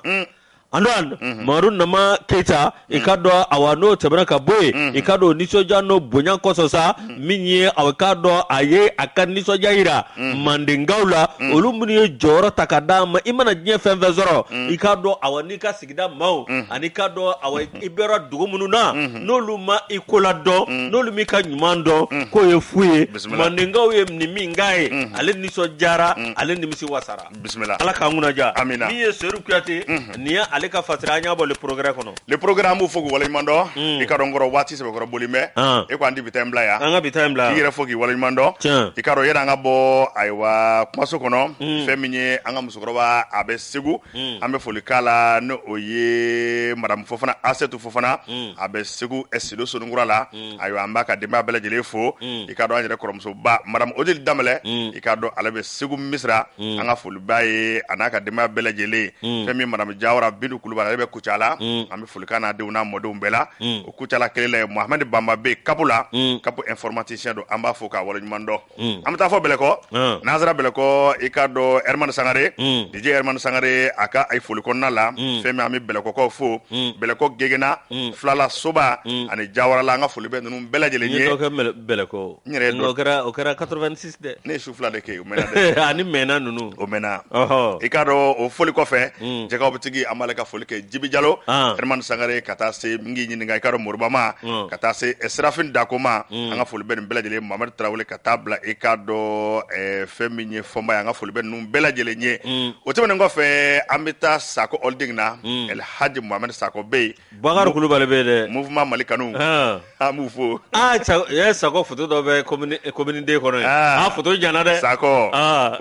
an mhm. mamadu naman keyita i k'a dɔn awa n'o tɛmɛna ka bɔ yen mhm. i k'a dɔn nisɔndiya n'o bonya kosɔn sa mhm. min ye aw k'a dɔn a ye a ka nisɔndiya yira mandenkaw la olu minnu ye jɔyɔrɔ ta ka d'a ma i mana diɲɛ fɛn fɛn sɔrɔ i k'a dɔn awa n'i ka sigida maaw ani k'a dɔn awa i bɔra dugu minnu na n'olu ma i kola dɔn n'olu m'i ka ɲuman dɔn k'o ye fu ye mandenkaw ye nin min k'a ye ale nisɔndiyara ale nimisi wasara bisimila ala k'an kunna diya amina min ye seyidu kuyate mhm. nin ye ale ka fatira an y'a bɔ le progrès kɔnɔ le progrès an b'o fo k'u waleɲuman dɔn mm. i k'a dɔn n kɔrɔ waati sɛbɛkɔrɔ bolilen bɛ ah. e ko an di bi ta in bila yan an ka bi ta in bila k'i yɛrɛ fo k'i waleɲuman dɔn i k'a dɔn yanni an ka bɔ ayiwa kumaso kɔnɔ mm. fɛn min ye an ka musokɔrɔba a bɛ segu mm. an bɛ foli k'a la ni o ye madamu fofana asɛtu fofana a bɛ segu sido soninkura la ayiwa an b'a ka denbaya bɛɛ lajɛlen fo mm. i k'a dɔn an yɛrɛ kɔrɔmusoba madame odile danbɛlɛ mm. i k'a dɔn ale bɛ segu misira mm. an ka foli b'a ye a n'a ka denbaya bɛɛ lajɛlen ye fɛn min madame jawara bintu kulubali ale bɛ kucala an bɛ foli k'a n'a denw n'a mɔdenw bɛɛ la o kucala kelen la ye mohamɛdi banba bɛ kapu la kapu informaticien don an b'a fo k'a waleɲuman dɔn Mm. an bɛ taa fo bɛlɛkɔ Mm. n'an sera bɛlɛkɔ i k'a dɔn ɛrimani sangare Mm. dj ɛrimani sangare a ka a ye foli kɔnɔna la Mm. fɛn min an bɛ bɛlɛkɔkaw fo Mm. bɛlɛkɔ gegena Mm. filala soba Mm. ani jawarala an ka foli bɛ ninnu bɛɛ lajɛlen N ye ye dɔ kɛ mɛlɛ- bɛlɛkɔ N yɛrɛ ye Nka dɔ- o kɛra o kɛra 86 dɛ ne ye su fila de kɛ yen, o mɛnna dɛ ani mɛnna ninnu o mɛnna ɔhɔ i k'a dɔn o foli kɔfɛ Mm. jɛgɛw bɛ tigi an b'ale ka foli kɛ jibi jalo Ah. ɛrimani sangare ka taa se n k'i ɲininka i k'a dɔn moribama Mm. ka taa se eh, serafin dakoma Mm. an ka foli bɛ nin bɛɛ lajɛlen Mohamed Tarawele ka taa bila i k'a dɔn ɛɛ fɛn min ye fɔnba ye an ka foli bɛ ninnu bɛɛ lajɛlen ye o tɛmɛnen kɔfɛ an bɛ taa Sakɔ holding na El Hadj Mohamed Sakɔ bɛ yen Bubakari Kulubali bɛ yen dɛ mouvement Mali kanu an b'u fo aa Sakɔ photo dɔ bɛ commune II kɔnɔ yen aa photo janyana dɛ Sakɔ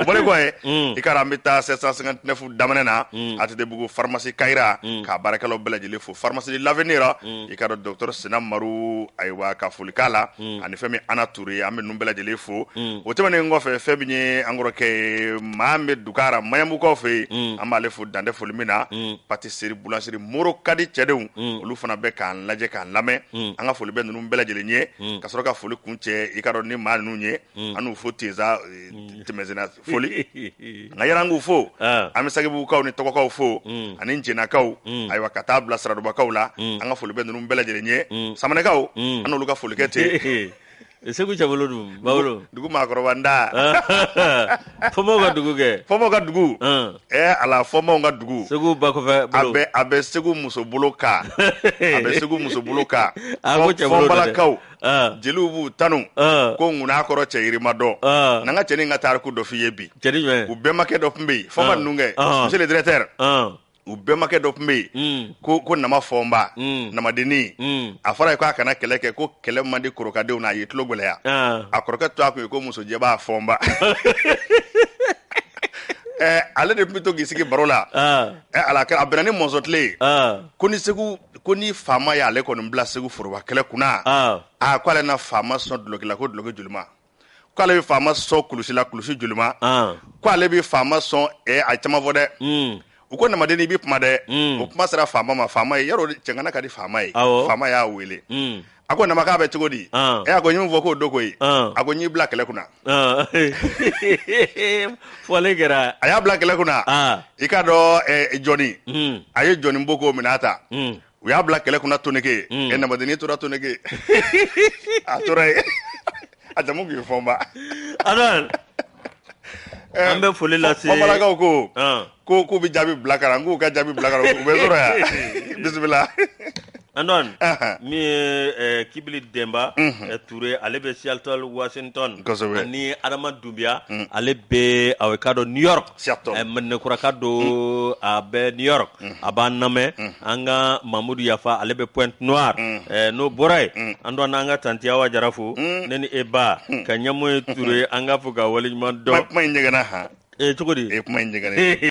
o bɔlen kɔfɛ i k'a dɔn an bɛ taa 759 daminɛ na ATTbugu pharmacie Kayira k'a baarakɛlaw bɛɛ lajɛlen fo pharmacie de l'avenir i k'a dɔn docteur sinamaru ayiwa ka foli k'a la ani fɛn min ye ana ture ye an bɛ ninnu bɛɛ lajɛlen fo o tɛmɛnen kɔfɛ fɛn min ye an kɔrɔkɛ maa bɛ dukara maɲanbukaw fɛ yen an b'ale fo dan tɛ foli min na pâtisserie boulangerie moro kadi cɛdenw olu fana bɛ k'an lajɛ k'an lamɛn an ka foli bɛ ninnu bɛɛ lajɛlen ye ka sɔrɔ ka foli kuncɛ i k'a dɔn ni maa ninnu ye Mm. an n'u fo ten sa eh, mm. tɛmɛsenna foli nka yɛrɛ an k'u fo ah. an bɛ sagebugukaw ni tɔgɔkaw fo mm. ani jɛnakaw ayiwa ka taa bila saradubakaw la an ka foli bɛ ninnu bɛɛ lajɛlen ye samanɛkaw an n'olu ka foli kɛ ten segu cɛbolo dun bawolo dugu maakɔrɔba nda fɔnbaw ka dugu kɛ fɔnbaw ka dugu ah. ɛ eh, ala fɔnbaw ka dugu segu ba kɔfɛ bolo a bɛ a bɛ segu muso bolo ka a bɛ segu muso bolo ka fɔnbalakaw ah. jeliw b'u tanu ah. ko ŋun'a kɔrɔ cɛ yirima dɔn ah. n'an ka cɛnin ka tariku dɔ f'i ye bi u bɛnbakɛ dɔ tun bɛ yen fɔnba ninnu kɛ monsieur le directeur u bɛnbakɛ dɔ tun bɛ yen hmm. ko ko nama fɔnba hmm. namadennin hmm. a fɔra a ye ko a kana kɛlɛ kɛ ko kɛlɛ man di korokadenw na a ye tulo gɛlɛya a kɔrɔkɛ tɔgɔ tun ye ko musojɛba fɔnba eh, ale de tun bɛ to k'i sigi baro la eh, ala a bɛnna ni mɔnzɔn tile ye ko ni segu ko ni faama y'ale kɔni bila segu foroba kɛlɛ kunna ah. a ah, ko ale na faama sɔn duloki la ko duloki juluma ko ale bɛ faama sɔn kulusi la kulusi juluma ah. ko ale bɛ faama sɔn eh, a caman fɔ dɛ hmm. u ko namadennin i bɛ kuma dɛ hmm. o kuma sera faama ma faama ye yarɔ cɛŋana ka di faama ye faama y'a wele hmm. a ko nama k'a bɛ cogo di ah. ɛ eh, a ko n ye min fɔ k'o don koyi ah. a ko n y'i bila kɛlɛ kunna ah. fɔlen kɛra a y'a bila kɛlɛ kunna i k'a dɔn eh, jɔni hmm. a ye jɔni bo k'o minɛ a ta hmm. u y'a bila kɛlɛ kunna toneke hmm. ɛ eh, namadennin tora toneke a tora yen a jamu tun ye fɔnba Ando an bɛ foli lase bamanankaw ko ɔn, ko k'u bɛ jaabi bila ka na n k'u ka jaabi bila ka na u bɛ sɔrɔ yan bisimila Ando Ahan. min ye eh, kibili denba eh, ture ale bɛ seattle washington Kosɛbɛ. ani adama dunbiya ale bɛ aw k'a dɔn new york Mɛnɛkuraka don a bɛ New York a b'an lamɛn an ka mamudu Yafa ale bɛ Pointe Noire n'o bɔra yen an don an n'an ka tanti Awa Jara fo ne ni e ba ka ɲɛmɔgɔ Ture an k'a fo k'a wale ɲuman dɔn kuma in ɲɛgɛnna cogo di kuma in ɲɛgɛn